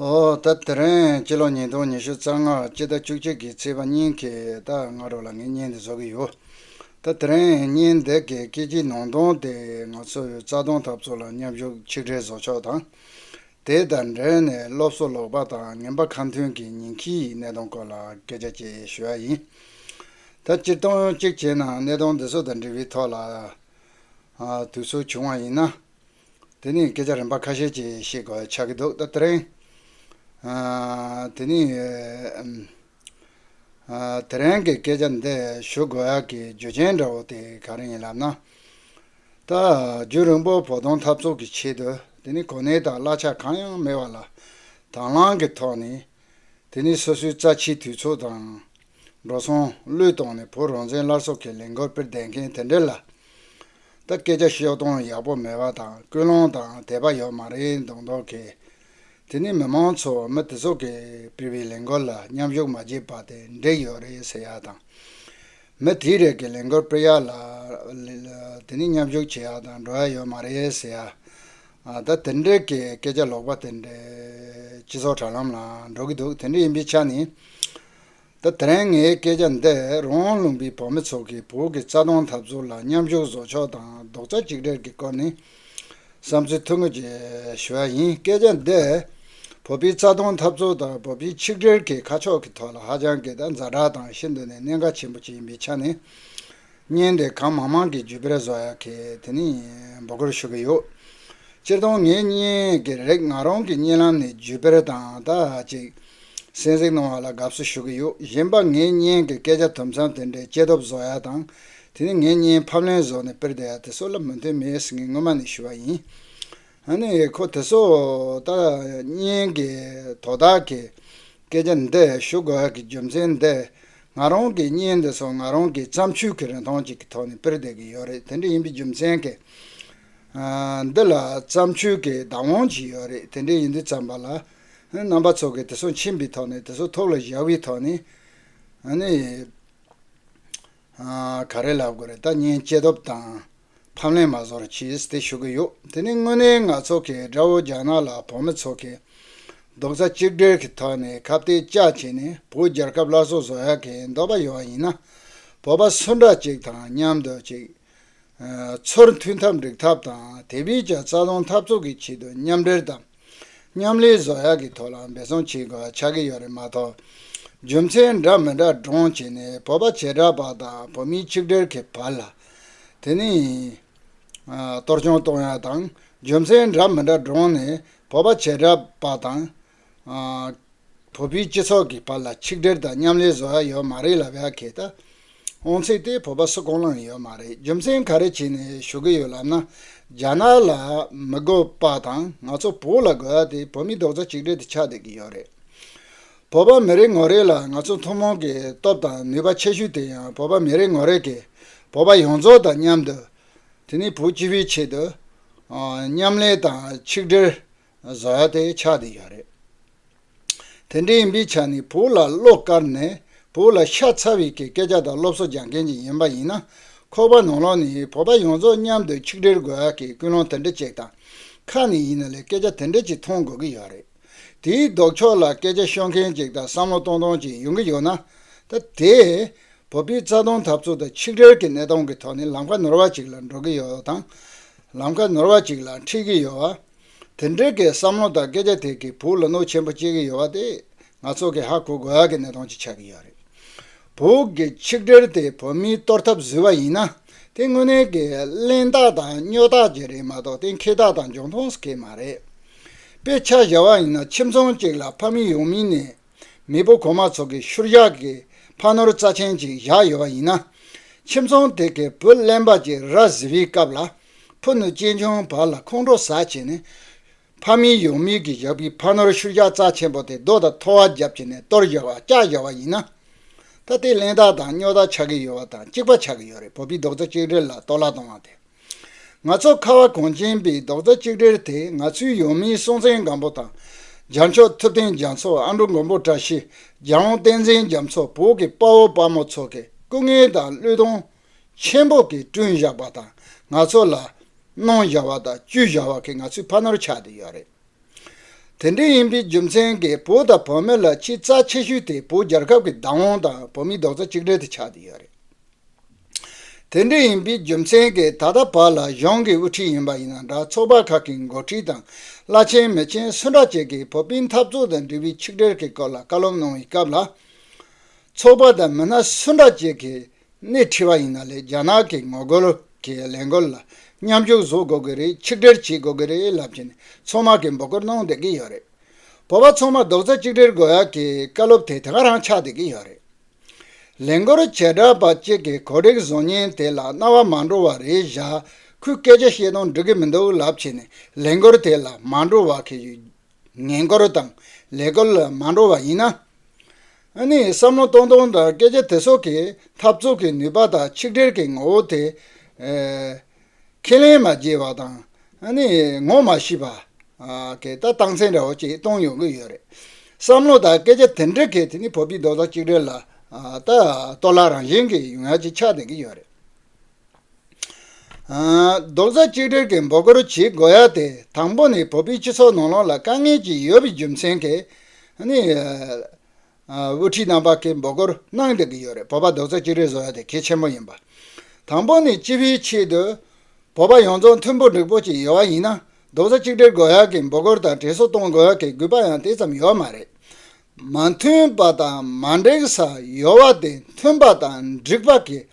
ཨོ་ད་དེ་རིང་སྤྱི་ལོ་ཉིས་སྟོང་ཉི་ཤུ་རྩ་ལྔ་སྤྱི་ཟླ་བཅུ་གཅིག་གི་ཚེས་པ་ཉིན་གྱི་ད་སྔ་རོ་ལ་ངས་བརྙན་འདི་བཟོ་གི་ཡོད། ད་དེ་རིང་བརྙན་འདི་གའི་སྐད་ཀྱི་ནང་དོན་དེ་ང་ཚོའི་རྩ་སྟོང་འཐབ་རྩོད་ལ་མཉམ་ཞུགས་ཆིག་སྒྲིལ་བཟོ་ཕྱོགས་དང། དེ་དང་འབྲེལ་ནས་སློབ་གསོ་ལོག་པ་དང་ངན་པ་ཁ་མཐུན་གྱི་ཉིང་ཁྱིའི་གནས་སྟངས་སྐོར་ལ་སྐད་ཆ་བཅས་ཞུ་ཡ་ཡིན། ད་སྤྱིར་བཏང་གཅིག་བྱས་ན་གནས་སྟངས་འདི་ཚོ་དང་འབྲེལ་བའི་ཐོག་ལ། དུས་ཚོད་བྱུང་བ་ཡིན་ན། དེ་ནས་སྐད་ཆ་རིམ་པ་ཁ་ཤས་ཅིག་ཤིག་ཆགས་ཀྱི་འདུག་ད་ཐེངས། དེ་ནི། དེ་རིང་གི་སྐད་ཆ་འདི་ཞུ་དགོས་ཡག་གི་རྒྱུ་རྐྱེན་འདྲ་བོ་དེ་ག་རེ་ཡིན་ལབ་ན། ད་རྒྱུན་རིང་པོར་བོགས་གཏོང་འཐབ་རྩོད་ཀྱི་ཆེད་དུ་དེ་ནི་གོ་གནས་དང་གླ་ཆ་གང་ཡང་མེད་པ་ལ་དྭང་བླངས་ཀྱི་ཐོག་ནས། དེ་ནི་སོ་སོའི་རྩ་ཆེའི་དུས་ཚོད་དང། འགྲོ་སོང་བློས་གཏོང་ནས་བོད་རང་བཙན་སླར་གསོ་གི་ལས་འགུལ་སྤེལ་བསྡད་མཁན་དེ་འདྲ་ལ། ད་སྐད་ཆ་བཤད་སྟངས་ཡག་པོ་མེད་པ་དང་སྐུལ་སློང་དང་དད་པ་ཡོད་མ་རེད་འདུག་འདོག་གི། དེ་ནི་མི་མང་ཚོ་མི་དེ་ཚོ་གིས་སྤེལ་བའི་ལས་འགུལ་ལ་མཉམ་ཞུགས་མ་བྱས་པ་དེ་འདྲས་ཡོད་རེད་ཟེར་ཡག་དང། མི་དེའི་རེས་ཀྱི་ལས་འགུལ་སྤེལ་ཡག་ལ། དེ་ནི་མཉམ་ཞུགས་བྱེད་ཡག་དང་འགྲོ་ཡག་ཡོད་མ་རེད་ཟེར་ཡག། ད་དེ་འདྲས་ཀྱི་སྐད་ཆ་ལོག་པ་དེ་འདྲས་སྤྱི་ཚོགས་དྲ་ལམ་ལའང་འགྲོ་གི་འདུག་དེ་འདྲས་ཡིན་པའི་ཆ་ནས། ད་ཐེངས་ངའི་སྐད་ཆ་འདི་རོང་བོ་ལུང་པའི་བོད་མི་ཚོ་གིས་བོད་ཀྱི་རྩ་དོན་འཐབ་རྩོད་ལ་མཉམ་ཞུགས་བཟོ་ཕྱོགས་དང་རྡོག་རྩ་གཅིག་སྒྲིལ་གྱི་སྐོར་ནས་བསམ་ཚུལ་ཐོ་འགོད་བྱས་ཞུ་བ་ཡིན་སྐད་ཆ་འདི་བོད་པའི་རྩ་དོན་འཐབ་རྩོད་དང་བོད་པའི་ཆིག་སྒྲིལ་གྱི་ཁ་ཕྱོགས་ཀྱི་ཐོག་ལ་ཧ་ཅང་གི་ད་འཛའ་དྲག་དང་ཤིན་ཏུ་ནས་གནད་འགག་ཆེན་པོ་ཅིག་ཡིན་པའི་ཆ་ནས། བརྙན་དེ་གང་མང་མང་གི་བརྒྱུད་སྤེལ་བཟོ་ཡག་གི་དེ་ནི་འབོད་སྐུལ་ཞུ་གི་ཡོད། སྤྱིར་བཏང་ངས་བརྙན་གྱི་རིགས་ང་རང་གི་བརྙན་ལམ་ནས་བརྒྱུད་སྤེལ་དང་ད་ཅིག་གསན་གཟིགས་གནང་བ་ལ་དགའ་བསུ་ཞུ་གི་ཡོད་གཞན་པ་ངའི་བརྙན་གྱི་སྐད་ཆ་དུམ་མཚམས་དེ་འདྲའི་སྐྱེ་སྟོབས་བཟོ་ཡག་དང་དེ་ནི་ངའི་བརྙན་ཕབ་ལེན་བཟོ་ནས་སྤེལ་བསྡད་ཡག་དེ་སོགས་ལ་མོས་མཐུན་མེད་ཟེར་མཁན་སྔོན་མ་ནས་ཞུ་བ་ཡིན། ཨ་ནི་ཁོ་དེ་སོ་ལྟར་སྙན་གི་དོ་བདག་གི་སྐད་ཆ་འདི་ཞུ་དགོས་གི་རྒྱུ་མཚན་འདི་ང་རང་གི་སྙན་འདི་སོ་ང་རང་གི་བརྩམས་ཆོས་ཀི་རིན་ཐང་ཅིག་གི་ཐོག་ནས་སྤེལ་བསྡད་གི་ཡོད་རེད་དེ་འདྲ་ཡིན་པའི་རྒྱུ་མཚན་གི་འདི་ལ་བརྩམས་ཆོས་ཀི་བདག་དབང་ཅིག་ཡོད་རེད་དེ་འདྲ་ཡིན་དུས་བརྩམས་པ་ལ་རྣམ་པ་ཚོ་གི་དེ་སོ་མཁྱེན་པའི་ཐོག་ནས་དེ་སོ་ཐོག་ལ་བཞག་པའི་ཐོག་ནས་ཨ་ནི་ག་རེ་ལབ་དགོས་རེད་ད་སྙན་སྐྱེས་སྟོབས་དང་ཕབ་ལེན་མ་བཟོ་ར་གྱིས་དེ་ཞུ་གི་ཡོད་དེ་ནི་དངོས་གནས་ང་ཚོ་གི་དགྲ་བོ་རྒྱ་ནག་ལ་བོད་མི་ཚོ་གི་རྡོག་རྩ་གཅིག་སྒྲིལ་གི་ཐོག་ནས་ཁ་བསྟེ་ལྕག་བྱས་ནས་བོད་རྒྱལ་ཁབ་སླར་གསོ་བཟོ་ཡ་གི་འདོད་པ་ཡོད་ཡིན་ན་བོད་པ་སུ་འདྲ་གཅིག་དང་མཉམ་དུ་གཅིག་ཚུར་མཐུན་འཐབ་འགྲིག་ཐབས་དང་དེ་བས་ཀྱང་རྩ་སྟོང་འཐབ་རྩོད་གི་ཆེད་དུ་མཉམ་འབྲེལ་དང། མཉམ་ལས་བཟོ་གཞག་གི་ཐོག་ལ་འབད་བརྩོན་བྱེད་དགོས་པ་ཆགས་ཀྱི་ཡོད་རེད་མ་གཏོགས། རྒྱུ་མཚན་འདྲ་མི་འདྲ་བགྲང་བྱས་ནས་བོད་པ་བྱེ་བྲག་པ་དང་བོད་མི་ཆིག་སྒྲིལ་གྱི་བར་ལ། དེ་ནི། གཏོར་སྐྱོན་གཏོང་ཡག་དང་རྒྱུ་མཚན་འདྲ་མི་འདྲ་བགྲང་ནས་བོད་པ་བྱེ་བྲག་པ་དང། བོད་པའི་སྤྱི་ཚོགས་ཀྱི་བར་ལ་ཆིག་སྒྲིལ་དང་མཉམ་ལས་བཟོ་གཞག་ཡོད་མ་རེད་ལབ་ཡག་གི་ད། ཨོང་ཚིག་དེ་བོད་པ་སུ་གང་ལའང་ཡོད་མ་རེད་རྒྱུ་མཚན་ག་རེ་བྱས་ནས་ཞུ་གི་ཡོད་ལབ་ན་རྒྱ་ནག་ལ་མི་དགོས་པ་དང་ང་ཚོ་བོད་ལ་དགོས་ཡ་དེ་བོད་མི་རྡོག་རྩ་གཅིག་སྒྲིལ་དུ་ཆགས་བསྡད་ཀྱི་ཡོད་རེད་བོད་པ་མི་རེ་ངོ་རེ་ལ་ང་ཚོ་ཐུན་མོང་གི་སྟོབས་དང་ནུས་པ་ཆེ་ཤོས་དེ་ཡང་བོད་པ་མི་རེ་ངོ་རེ་གིས་བོད་པ་ཡོངས་རྫོགས་དང་མཉམ་དུ་དེ་ནི་བོད་སྤྱི་བའི་ཆེད་དུ་མཉམ་ལས་དང་ཆིག་སྒྲིལ་བཟའ་དེ་ཆགས་དེ་བཞག་རེད། དེ་འདྲ་ཡིན་པའི་ཆ་ནས་བོད་ལ་བློ་དཀར་ནས་བོད་ལ་ཤ་ཚ་བའི་གི་སྐད་ཆ་དང་སློབ་གསོ་སྦྱང་མཁན་ཅིག་ཡིན་པ་ཡིན་ན་ཁོ་པ་ནང་ལོག་ནས་བོད་པ་ཡོངས་རྫོགས་མཉམ་དུ་ཆིག་སྒྲིལ་དགོས་ཡ་གི་ཀུན་སློང་དེ་འདྲ་ཅིག་དང། ཁ་ནས་ཡིན་ན་ལས་སྐད་ཆ་དེ་འདྲ་ཅིག་མཐོང་དགོས་གི་ཡོད་རེད། དེའི་ལྡོག་ཕྱོགས་ལ་སྐད་ཆ་ཤོད་མཁན་ཅིག་དང་བསམ་བློ་གཏོང་སྟངས་ཅིག་ཡོང་གི་ཡོད་ན། ད་དེ། བོད་པའི་རྩ་དོན་འཐབ་རྩོད་དང་ཆིག་སྒྲིལ་གི་གནས་སྟངས་ཀི་ཐོག་ནས་ལམ་ཁ་ནོར་བ་ཅིག་ལ་འགྲོ་གི་ཡོད་དང། ལམ་ཁ་ནོར་བ་ཅིག་ལ་འཁྲིད་གི་ཡོད། དེ་འབྲེལ་གྱི་བསམ་བློ་དང་སྐད་ཆ་དེ་གིས་བོད་ལ་གནོད་ཆེན་པོ་བསྐྱལ་གྱི་ཡོད་པ་དེ་ང་ཚོ་གིས་ཧ་གོ་དགོས་ཀྱི་གནད་དོན་ཅིག་ཆགས་ཀྱི་ཡོད་རེད། བོད་ཀྱི་ཆིག་སྒྲིལ་དེ་བོད་མིས་གཏོར་ཐབས་བཟོས་པ་ཡིན་ན་དེ་དངོས་གནས་ཀྱི་གླེན་རྟགས་དང་སྨྱོ་རྟགས་ཅིག་རེད་མ་གཏོགས་དེ་མཁས་རྟགས་དང་འབྱུང་ཐོངས་སུ་ཁེལ་མ་རེད། དཔེ་ཆ་བཞག་པ་ཡིན་ན་ཁྱིམ་ཚང་གཅིག་ལ་ཕ་མི་ཡོང་མིན་ནས་མེས་པོ་གོང་མ་ཚོ་གི་ཤུར་བཞག་གི་ཕ་ནོར་རྩ་ཆེན་གཅིག་བཞག་ཡོད་པ་ཡིན་ན། ཁྱིམ་ཚང་དེ་གའི་བུ་གླེན་པ་གཅིག་ར་བཟི་བའི་སྐབས་ལ། ཕུ་ནུ་གཅེན་གཅུང་བར་ལ་ཁོང་ཁྲོ་ཟ་བྱས་ནས། ཕ་མིས་ཡོང་མིས་ཀྱིས་བཞག་པའི་ཕ་ནོར་ཤུར་བཞག་རྩ་ཆེན་པོ་དེ་རྡོ་དང་ཐོ་བ་བརྒྱབ་བྱས་ནས་གཏོར་བཞག་བ་བཀྱག་བཞག་བ་ཡིན་ན། ད་ལྟའི་གླེན་རྟགས་དང་སྨྱོ་རྟགས་ཆགས་ཀྱི་ཡོད་པ་དང་གཅིག་པ་ཆགས་ཀྱི་ཡོད་རེད་བོད་པའི་རྡོག་རྩ་གཅིག་སྒྲིལ་ལ་གཏོར་བརླག་གཏོང་བ་དེ། ང་ཚོ་ཁ་བ་གངས་ཅན་པའི་རྡོག་རྩ་གཅིག་སྒྲིལ་དེ་ང་ཚོའི་ཡུལ་མིའི་སྲོང་བཙན་སྒམ་པོ་དང་རྒྱ་མཆོག་ཐུབ་བསྟན་རྒྱ་མཚོ་ཨ་མྲོ་མགོན་པོ་བཀྲ་ཤིས་རྒྱལ་དབང་བསྟན་འཛིན་རྒྱ་མཚོ་བོད་ཀྱི་དཔའ་བོ་དཔའ་མོ་ཚོ་གི་སྐུ་ངལ་དང་བློས་གཏོང་ཆེན་པོ་གིས་བསྐྲུན་བཞག་པ་དང་ང་ཚོ་ལ་གནང་བཞག་པ་དང་བཅུད་བཞག་པ་གིས་ང་ཚོའི་ཕ་ནོར་ཆགས་བསྡད་ཡོད་རེད། དེ་འདྲ་ཡིན་པའི་རྒྱུ་མཚན་གྱིས་བུ་དང་བུ་མོ་ལ་ཆེས་རྩ་ཆེ་ཤོས་དེ་བུ་རྒྱལ་ཁབ་ཀྱི་བདག་དབང་དང་བུ་མིའི་རྡོག་རྩ་གཅིག་སྒྲིལ་དུ་ཆགས་ཀྱི་ཡོད་རེད། དེ་འདྲ་ཡིན་པའི་རྒྱུ་མཚན་གྱིས་ད་ལྟ་བར་ལ་གཞུང་གི་དབུ་ཁྲིད་ཡིན་པ་ཡིན་ན་འདྲ་ཚོགས་པ་ཁག་གི་འགོ་ཁྲིད་དང་བླ་ཆེན་མི་ཆེན་སུ་འདྲ་བྱས་ཀྱིས་བོད་པའི་འཐབ་རྩོད་དང་འབྲེལ་བའི་ཆིག་སྒྲིལ་གྱི་སྐོར་ལ་བཀའ་སློབ་གནང་བའི་སྐབས་ལ། ཚོགས་པ་དང་མི་སྣ་སུ་འདྲ་བྱས་ཀྱིས་ནས་ཁྲིད་པ་ཡིན་ན་ལས་རྒྱ་ནག་གི་ངོ་རྒོལ་གྱི་ལས་འགུལ་ལ་མཉམ་ཞུགས་བཟོ་དགོས་ཀྱི་རེད་ཆིག་སྒྲིལ་བྱེད་དགོས་ཀྱི་རེད་ལབ་ཀྱི་ནས་ཚོང་དམག་གིས་འབོད་སྐུལ་གནང་བསྡད་ཀྱི་ཡོད་རེད། བོད་པ་ཚོང་དམག་རྡོག་རྩ་གཅིག་སྒྲིལ་དགོས་ཡག་གི་བཀའ་སློབ་དེ་དེ་ག་རང་ཆགས་བསྡད་ཀྱི་ཡོད་རེད། ལས་འགུལ་བྱེད་གྲབས་པ་གཅིག་གིས་གོ་སྒྲིག་བཟོ་ཉེན་དེ་ལ་རྣ་བ་མ་འགྲོ་བ་རེད་བཞག་ཁོས་སྐད་ཆ་བཤད་དོན་འགྲིག་གི་མི་འདུག་ལབ་ཀྱི་ནས་ལས་འགུལ་དེ་ལ་མ་འགྲོ་བ་གི་ཡོད། ངེས་འགོར་དང་ལས་འགོར་ལ་མ་འགྲོ་བ་ཡིན་ན། ཨ་ནི་བསམ་བློ་གཏོང་སྟངས་དང་སྐད་ཆ་དེ་སོགས་ཀྱིས་འཐབ་རྩོད་ཀྱི་ནུས་པ་དང་ཆིག་སྒྲིལ་གྱི་ངོ་བོ་དེ། ཁས་ལེན་མ་བགྱིས་པ་དང་ཨ་ནི་ངོ་མ་ཤེས་པ། གད་ལྟ་སྟངས་འཛིན་འདྲ་བོ་ཅིག་གཏོང་ཡོང་གི་ཡོད་རེད། བསམ་བློ་དང་སྐད་ཆ་དེ་འདྲ་གིས་དེ་ནི་བོད་པའི་རྡོག་རྩ་གཅིག་སྒྲིལ་ལ་ལྟ་སྟོ་ལ་རང་བཞིན་གྱི་ཡུལ་ངལ་ཅིག་ཆགས་ལྡན་གྱི་ཡོད་རེད། རྡོག་རྩ་གཅིག་སྒྲིལ་གྱིས་འབོ་སྐོར་བྱེད་དགོས་ཡ་དེ་དང་པོ་ནི་བོད་པའི་སྤྱི་ཚོགས་ནང་ལོགས་ལ་དཀའ་ངལ་ཅིག་ཡོད་པའི་རྒྱུ་མཚན་གྱིས་དབུ་ཁྲིད་རྣམ་པ་གིས་འབོ་སྐོར་གནང་བསྡད་ཀྱི་ཡོད་རེད་བོད་པ་རྡོག་རྩ་གཅིག་སྒྲིལ་བཟོ་ཡ་དེ་གལ་ཆེན་པོ་ཡིན་པ་དང་པོ་ནི་སྤྱི་བའི་ཆེད་དུ་བོད་པ་ཡོངས་རྫོགས་མཐུན་པོ་འགྲིག་པོ་ཅིག་ཡོད་པ་ཡིན་ན་རྡོག་རྩ་གཅིག་སྒྲིལ་དགོས་ཡ་གིས་འབོ་སྐོར་དང་དྲན་གསོ་གཏོང་དགོས་ཡ་གི་གུས་པ་ཡང་དེ་ཙམ་ཡོད་མ་རེད་མ་མཐུན་པ་དང་མ་འགྲིག་ས་ཡོད་བ་དེ་མཐུན་པ་དང་འགྲིག་པ་གྱིས་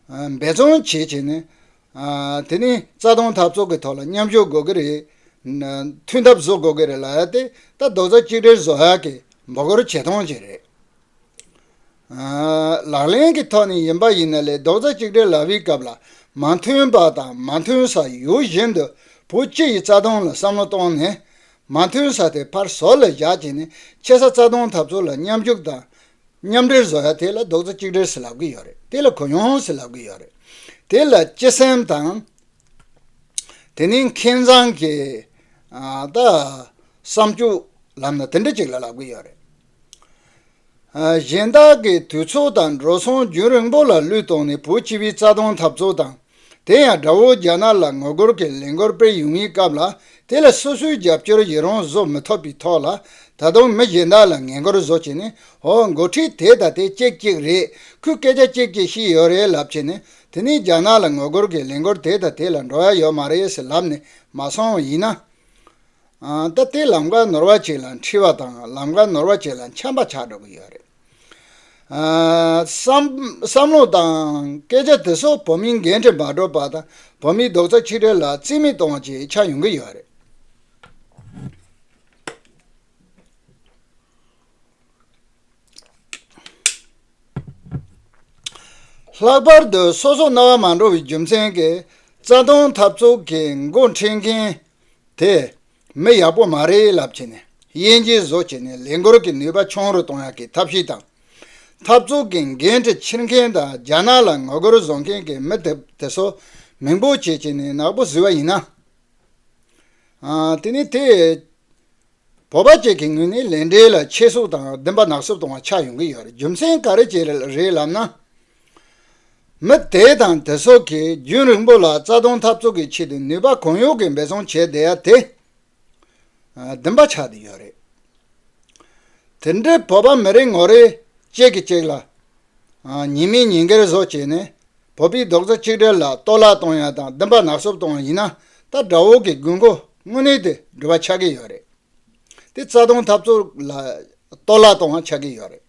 འབད་བརྩོན་བྱེད་བྱས་ནས། དེ་ནི་རྩ་དོན་འཐབ་རྩོད་ཀྱི་ཐོག་ལ་མཉམ་ཞུགས་དགོས་ཀྱི་རེད། མཐུན་ཐབས་བཟོ་དགོས་ཀྱི་རེད་ལ་དེ་ལྟ་རྡོག་རྩ་གཅིག་སྒྲིལ་བཟོ་ཡག་གི་འབོ་སྐོར་བྱེད་སྟངས་ཅིག་རེད། ལག་ལེན་གྱི་ཐོག་ནས་ཡིན་པ་ཡིན་ན་ལས་རྡོག་རྩ་གཅིག་སྒྲིལ་ལག་བེའི་སྐབས་ལ་མ་མཐུན་པ་དང་མ་མཐུན་ས་ཡོད་བཞིན་དུ་བུ་སྤྱི་ཡི་རྩ་དོན་ལ་བསམ་བློ་གཏོང་ནས་མ་མཐུན་ས་དེ་ཕར་ཟོར་ལ་བཞག་བྱས་ནས་ཆེ་ས་རྩ་དོན་འཐབ་རྩོད་ལ་མཉམ་ཞུགས་དང་མཉམ་འབྲེལ་བཟོ་ཡ་དེ་ལ་རྡོག་རྩ་གཅིག་སྒྲིལ་སེ་ལབ་གི་ཡོད་རེད་དེ་ལ་གོ་ཡོང་སེ་ལབ་གི་ཡོད་རེད་དེ་ལ་སྤྱི་སེམས་དང། དེ་ནས་མཁས་མཛངས་ཀྱི་བསམ་སྤྱོད་ལམ་ལ་དེ་འདྲ་གཅིག་ལ་ལབ་གི་ཡོད་རེད། གཞན་དག་གིས་དུས་ཚོད་དང་འགྲོ་སོང་རྒྱུན་རིང་པོ་ལ་བློས་གཏོང་ནས་བོད་སྤྱི་བའི་རྩ་དོན་འཐབ་རྩོད་དང། དེ་ཡང་དགྲ་བོ་རྒྱ་ནག་ལ་ངོ་རྒོལ་གྱི་ལས་འགུལ་སྤེལ་ཡོང་ངེས་སྐབས་ལ་དེ་ལ་སོ་སོའི་རྒྱབ་སྐྱོར་ཡི་རང་བཟོ་མི་ཐུབ་པའི་ཐོག་ལ་ད་དུང་མི་གཞན་དག་ལ་ངན་སྐུལ་བཟོ་བྱས་ནས་ཧོ་འགོ་ཁྲིད་དེ་ད་ལྟའི་ཅིག་ཅིག་རེད་ཁོས་སྐད་ཆ་ཅིག་ཅིག་བཤད་ཡོད་རེད་ལབ་བྱས་ནས་དེ་ནས་རྒྱ་ནག་ལ་ངོ་རྒོལ་གྱི་ལས་འགུལ་དེ་དང་དེ་ལ་འགྲོ་ཡ་ཡོད་མ་རེད་ཟེར་ལབ་ནས་མ་སོང་བ་ཡིན་ན། ད་ལྟའི་ལམ་ཀ་ནོར་བ་ཅིག་ལ་འཁྲིལ་བ་དང་ལམ་ཀ་ནོར་བ་ཅིག་ལ་འཁྱམས་པ་ཆགས་འགྲོ་གི་ཡོད་རེད། བསམ་བློ་དང་སྐད་ཆ་དེ་སོགས་བོད་མིའི་འགན་འཁྲི་མ་སྒྲུབ་པ་དང་བོད་མིའི་རྡོག་རྩ་ཆིག་སྒྲིལ་ལ་རྩིས་མེད་གཏོང་བ་བཅས་ཆགས་ཡོང་གི་ཡོད་རེད། ལྷག་པར་དུ་སོ་སོ་རྣ་བ་མ་འགྲོ་བའི་རྒྱུ་མཚན་གྱིས་རྩ་སྟོང་འཐབ་རྩོད་ཀྱི་མགོ་འཁྲིད་མཁན་དེས། མི་ཡག་པོ་མ་རེད་ལབ་བྱས་ནས་དབྱེ་འབྱེད་བཟོ་བྱས་ནས་ལས་འགུལ་གྱི་ནུས་པ་ཆུང་རུ་གཏོང་ཡག་གི་ཐབས་ཤེས་དང། འཐབ་རྩོད་ཀྱི་འགན་འཁྲི་འཁྱེར་མཁན་དང་རྒྱ་ནག་ལ་ངོ་རྒོལ་བཟོ་མཁན་གྱི་མི་དེ་ཚོ་མིང་པོ་ཆེ་བྱས་ནས་ནག་པོ་བཟོས་པ་ཡིན་ན། དེ་ནི་དེས། བོད་པ་བཅས་ཀྱི་ངོས་ནས་ལས་འབྲས་ལ་ཆེ་བསུབ་དང་བདེན་པ་ནག་བསུབ་གཏོང་བ་ཆགས་ཡོང་གི་ཡོད་རྒྱུ་མཚན་ག་རེ་བྱས་རེད་ལབ་ན། མི་དེ་དང་དེ་སོགས་ཀྱིས་རྒྱུན་རིང་པོ་ལ་རྩ་སྟོང་འཐབ་རྩོད་ཀྱི་ཆེད་དུ་ནུས་པ་གང་ཡོད་ཀྱིས་འབད་བརྩོན་བྱས་བསྡད་ཡ་དེ་བདུན་པ་ཆགས་ཀྱི་ཡོད་རེད། དེ་འདྲའི་བོད་པ་མི་རེ་ངོ་རེ་གཅིག་གིས་གཅིག་ལ་ཉེས་མིང་ཉེས་འགེལ་བཟོ་བྱས་ནས་བོད་པའི་རྡོག་རྩ་གཅིག་སྒྲིལ་ལ་གཏོར་བརླག་གཏོང་ཡ་དང་བདུན་པ་ནག་བསུབ་གཏོང་བ་ཡིན་ན་ད་དགྲ་བོ་གི་དགོས་མཁོ་དངོས་གནས་དེ་འགྲུབ་པ་ཆགས་ཀྱི་ཡོད་རེད། དེ་རྩ་སྟོང་འཐབ་རྩོད་ལ་གཏོར་བརླག་གཏོང་བ་ཆགས་ཀྱི་ཡོད་རེད།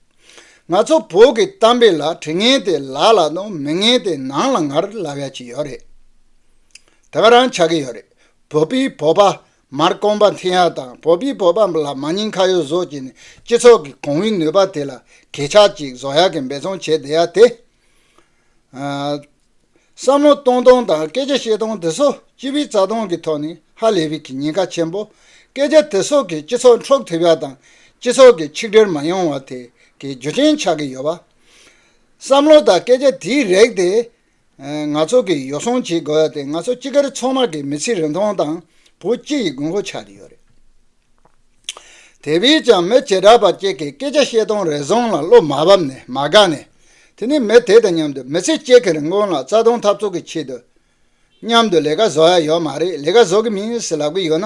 ང་ཚོ་བོད་ཀྱི་གཏམ་དཔེ་ལ་དྲི་ངན་དེ་ལག་ལ་དང་མི་ངན་དེ་ནང་ལ་ངར་ལ་བས་ཀྱི་ཡོད་རེད། དེ་ག་རང་ཆགས་ཀྱི་ཡོད་རེད། བོད་པའི་བོད་པ་མར་རྐང་པ་འཐེན་ཡ་དང་བོད་པའི་བོད་པ་ལ་མ་སྙིང་ཁ་ཡོད་བཟོ་བྱས་ནས་སྤྱི་ཚོགས་ཀྱི་གང་བུའི་ནུས་པ་དེ་ལ་གས་ཆག་ཅིག་བཟོ་ཡ་གི་འབད་བརྩོན་བྱས་བསྡད་ཡ་དེ། བསམ་བློ་གཏོང་སྟངས་དང་སྐད་ཆ་བཤད་སྟངས་དེ་ཚོ་སྤྱི་པའི་རྩ་དོན་གྱི་ཐོག་ནས་ཧ་ལས་པའི་ཉེན་ཁ་ཆེན་པོ། སྐད་ཆ་དེ་ཚོ་གིས་སྤྱི་ཚོགས་འཕྲོག་ཐུབ་པ་དང་སྤྱི་ཚོགས་ཀྱི་ཆིག་སྒྲིལ་མ་ཡོང་བ་དེ་གའི་རྒྱུ་རྐྱེན་ཆགས་ཀྱི་ཡོད་པ། བསམ་བློ་དང་སྐད་ཆ་དེས་རེག་དེ། ང་ཚོ་གིས་ཡོ་བསྲང་བྱེད་དགོས་པ་དེ་ང་ཚོ་སྤྱི་སྒེར་ཚང་མ་གིས་མི་ཚེའི་རིན་ཐང་དང་བོད་སྤྱི་ཡི་དགོས་མཁོ་ཆགས་ཀྱི་ཡོད་རེད། དེ་བས་ཀྱང་མི་བྱེ་བྲག་པ་གཅིག་གིས་སྐད་ཆ་བཤད་སྟངས་རེ་ཟུང་ལ་བློ་མ་བབས་ནས་མ་དགའ་ནས་དེ་ནས་མི་དེ་དང་མཉམ་དུ་མི་ཚེ་གཅིག་གི་རིན་གོང་ལ་རྩ་སྟོང་འཐབ་རྩོད་ཀྱི་ཆེད་དུ་མཉམ་དུ་ལས་ཀ་བཟོ་ཡ་ཡོད་མ་རེད་ལས་ཀ་བཟོ་གི་མིན་ཟེར་ལབ་གི་ཡོད་ན་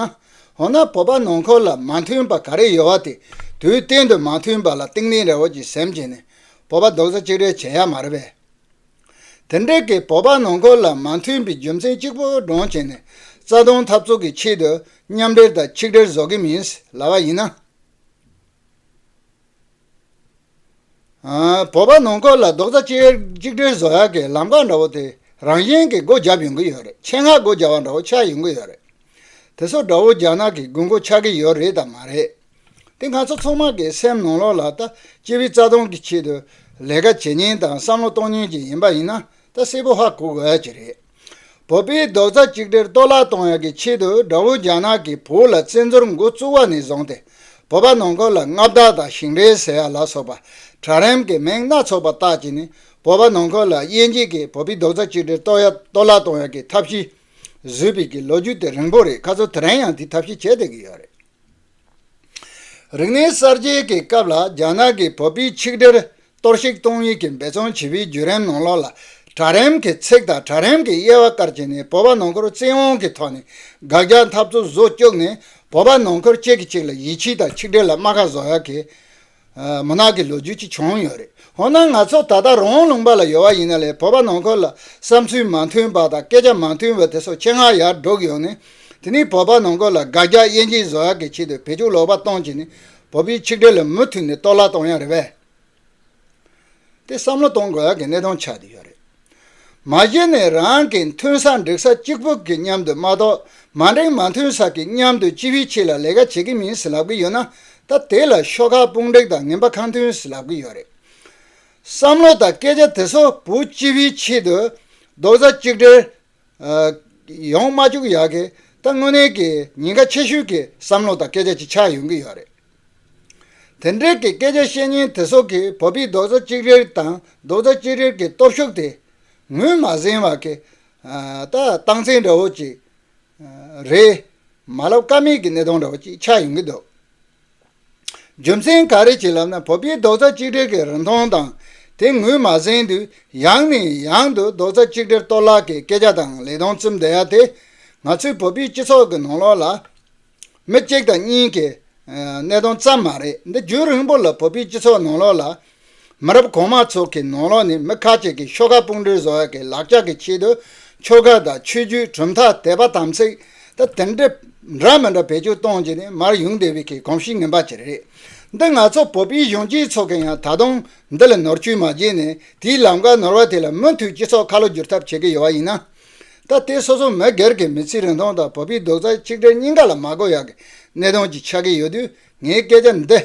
འོ་ན་བོད་པ་ནང་འཁོར་ལ་མ་མཐུན་པ་ག་རེ་ཡོད་བ་དེ་དུས་གཏན་དུ་མ་མཐུན་པ་ལ་ཏིང་ལིང་རེ་བོ་ཅིག་སེམས་བྱས་ནས་བོད་པ་རྡོག་རྩ་གཅིག་སྒྲིལ་བྱེད་ཡ་མ་རེད་པས། དེ་འབྲེལ་གྱི་བོད་པ་ནང་ཁུལ་ལ་མ་མཐུན་པའི་རྒྱུ་མཚན་གཅིག་པུ་སྒྲོངས་བྱས་ནས་རྩ་སྟོང་འཐབ་རྩོད་ཀྱི་ཆེད་དུ་མཉམ་འབྲེལ་དང་ཆིག་སྒྲིལ་བཟོ་གི་མིན་ལབ་པ་ཡིན་ན། བོད་པ་ནང་ཁུལ་ལ་རྡོག་རྩ་གཅིག་སྒྲིལ་བཟོ་ཡག་གི་ལམ་ཀ་འདྲ་བོ་དེ་རང་བཞིན་གྱིས་སྒོ་བརྒྱབ་ཡོང་གི་ཡོད་རེད་ཆེད་མངགས་སྒོ་བརྒྱབ་པ་འདྲ་བོ་ཆགས་ཡོང་གི་ཡོད་རེད། དེ་སོགས་དགྲ་བོ་རྒྱ་ནག་གི་དགོས་མཁོ་ཆགས་ཀྱི་ཡོད་རེད་དམ་མ་རེད། དེ་ང་ཚོ་ཚང་མ་གི་སེམས་ནང་ལོག་ལ་ད་སྤྱི་བའི་རྩ་དོན་གི་ཆེད་དུ་ལས་ཀ་བྱེད་ཉེན་དང་བསམ་བློ་གཏོང་ཉེན་གྱི་ཡིན་པ་ཡིན་ན་ད་སེ་བོ་ཧ་གོ་གི་ཨེ་རེད། བོད་པའི་རྡོག་རྩ་གཅིག་སྒྲིལ་གཏོར་བརླག་གཏོང་ཡག་གི་ཆེད་དུ་དགྲ་བོ་རྒྱ་ནག་གི་བོད་ལ་བཙན་འཛུལ་མགོ་བཙུགས་བ་ནས་བཟུང་སྟེ་བོད་པ་ནང་ཁུལ་ལ་མངའ་བདག་དང་ཞིང་རལ་ཟེར་ཡག་ལ་སོགས་པ་དྲ་རེམ་གི་མིང་སྣ་ཚོགས་པ་དག་གིས་ནི་བོད་པ་ནང་ཁུལ་ལ་དབྱེ་འབྱེད་ཀྱིས་བོད་པའི་རྡོག་རྩ་གཅིག་སྒྲིལ་གཏོར་བརླག་གཏོང་ཡག་གི་ཐབས་ཤེས། བཟོས་པའི་གི་ལོ་རྒྱུས་དེ་རིང་པོ་རེད་ཁ་ཚོ་དེ་རིང་ཡང་དེའི་ཐབས་ཤེས་བྱེད་བསྡད་ཀྱི་ཡོད་རེད། རིག་གནས་གསར་བརྗེ་གི་སྐབས་ལ་རྒྱ་ནག་གི་བོད་པའི་ཆིག་སྒྲིལ་གཏོར་བཤིག་གཏོང་ཡུལ་གྱི་འབད་བརྩོན་བྱས་པའི་བརྒྱུད་རིམ་ནང་ལོགས་ལ་དྲ་རིམ་གི་ཚིག་དང་དྲ་རིམ་གི་དབྱེ་བ་བཀར་བྱས་ནས་བོད་པ་ནང་ཁུལ་བཙན་དབང་གི་ཐོག་ནས་དགག་རྒྱག་འཐབ་རྩོད་བཟོ་བཅུག་ནས་བོད་པ་ནང་ཁུལ་གཅིག་གིས་གཅིག་ལ་ཡིད་ཆེས་དང་ཆིག་སྒྲིལ་ལ་རྨ་ཁ་བཟོ་ཡག་གི་མུན་ནག་གི་ལོ་རྒྱུས་ཅིག་བྱུང་ཡོད་རེད་འོ་ན་ང་ཚོ་ད་ལྟ་རོང་ལུང་པ་ལ་ཡོད་བ་ཡིན་ན་ལས་བོད་པ་ནང་ཁུལ་ལ་བསམ་ཚུལ་མ་མཐུན་པ་དང་སྐད་ཆ་མ་མཐུན་པ་དེ་ཚོ་ཆེད་མངགས་ཡར་སྒྲོག་གི་ཡོད་ནི་དེ་ནི་བོད་པ་ནང་ཁུལ་ལ་དགག་རྒྱག་དབྱེ་འབྱེད་བཟོ་ཡག་གི་ཆེད་དུ་བེད་སྤྱོད་ལོག་པ་གཏོང་གི་ནི་བོད་པའི་ཆིག་སྒྲིལ་ལ་མུ་མཐུད་ནས་གཏོར་བརླག་གཏོང་ཡག་རེད་བས་དེ་བསམ་བློ་གཏོང་དགོས་ཡག་གི་གནད་དོན་ཆགས་ཀྱི་ཡོད་རེད། མ་གཞི་ནས་རང་གི་མཐུན་ས་འགྲིག་ས་གཅིག་པུ་གི་མཉམ་དུ་མ་གཏོགས་མ་འགྲིག་མ་མཐུན་ས་གི་མཉམ་དུ་ཅི་བི་ཕྱི་ལ་ལས་ཀ་བྱེད་ཀི་མིན་ཟེར་ལབ་གི་ཡོད་ན་ད་དེ་ལ་ཤོག་ཁག་དཔུང་འགྲིག་དང་ངན་པ་ཁང་མཐུན་ཟེར་ལབ་གི་ཡོད་རེད། བསམ་བློ་དང་སྐད་ཆ་དེ་སོ་བུ་ཅི་བི་ཕྱི་དུ་རྡོག་རྩ་གཅིག་སྒྲིལ་ཡོང་མ་བཅུག་ཡག་གི་ད་དངོས་གནས་ཀྱི་ཉེན་ཁ་ཆེ་ཤོས་ཀྱི་བསམ་བློ་དང་སྐད་ཆ་གཅིག་ཆགས་ཡོང་གི་ཡོད་རེད། དེ་འབྲེལ་གྱི་སྐད་ཆ་བཤད་ཉིན་དེ་སོགས་ཀྱི་བོད་པའི་རྡོག་རྩ་གཅིག་རེར་དང་རྡོག་རྩ་གཅིག་རེར་གྱི་སྟོབས་ཤུགས་དེ་ངོས་མ་ཟིན་བར་གྱི་ད་སྟངས་འཛིན་འདྲ་བོ་ཅིག་རེད། མ་ལབ་ཀ་མེད་ཀྱི་གནས་སྟངས་འདྲ་བོ་ཅིག་ཆགས་ཡོང་གི་འདུག། རྒྱུ་མཚན་ག་རེ་བྱེད་ལབ་ན་བོད་པའི་རྡོག་རྩ་གཅིག་སྒྲིལ་གྱི་རིན་ཐང་དང་དེ་ངོས་མ་ཟིན་དུས་ཡང་ནས་ཡང་དུ་རྡོག་རྩ་གཅིག་སྒྲིལ་གཏོར་བརླག་གི་སྐད་ཆ་དང་ལས་དོན་རྩིབ་འདི་ཡ་དེ་ང་ཚོའི་བོད་པའི་སྤྱི་ཚོགས་ཀྱི་ནང་ལོགས་ལ་མི་གཅིག་དང་གཉིས་ཀྱི་གནད་དོན་ཙམ་མ་རེད་འདི་རྒྱུན་རིང་པོ་ལ་བོད་པའི་སྤྱི་ཚོགས་ནང་ལོགས་ལ་མི་རབས་གོང་མ་ཚོ་གི་ནོར་ལོག་ནི་མི་ཁ་ཅིག་གི་ཤོ་ཁ་སྤུངས་འདྲའི་བཟོ་བ་གི་ལག་ཆ་གི་ཆེད་དུ་ཆོ་ག་དང་ཆོས་བརྒྱུད་གྲུབ་མཐའ་དད་པ་དམ་ཚིག་དང་དེ་འདྲ་འདྲ་མི་འདྲ་བེད་སྤྱོད་གཏོང་རྒྱུ་ནི་མར་ཡུང་དེ་བས་གི་གོམས་གཤིས་ངན་པ་ཅིག་རེད། འདི་ང་ཚོ་བོད་པའི་གཞོན་སྐྱེས་ཚོ་གི་ཡང་ད་དུང་འདི་ལ་ནོར་བཅོས་མ་བྱས་ནས་དེའི་ལམ་ཀ་ནོར་བ་དེ་ལ་མུ་མཐུད་སྤྱི་ཚོགས་ཁ་ལོ་བསྒྱུར་ཐབས་བྱེད་གི་ཡོད་བ་ཡིན་ན། ད་ལྟའི་སོ་སོ་མི་སྒེར་གི་མི་ཚེའི་རིན་ཐང་དང་བོད་པའི་རྡོག་རྩ་གཅིག་སྒྲིལ་གཉིས་ཀ་ལ་མ་གོ་ཡག་གི་གནད་དོན་གྱི་ཆགས་ཀྱི་ཡོད་དུས་ངའི་སྐད་ཆ་འདི།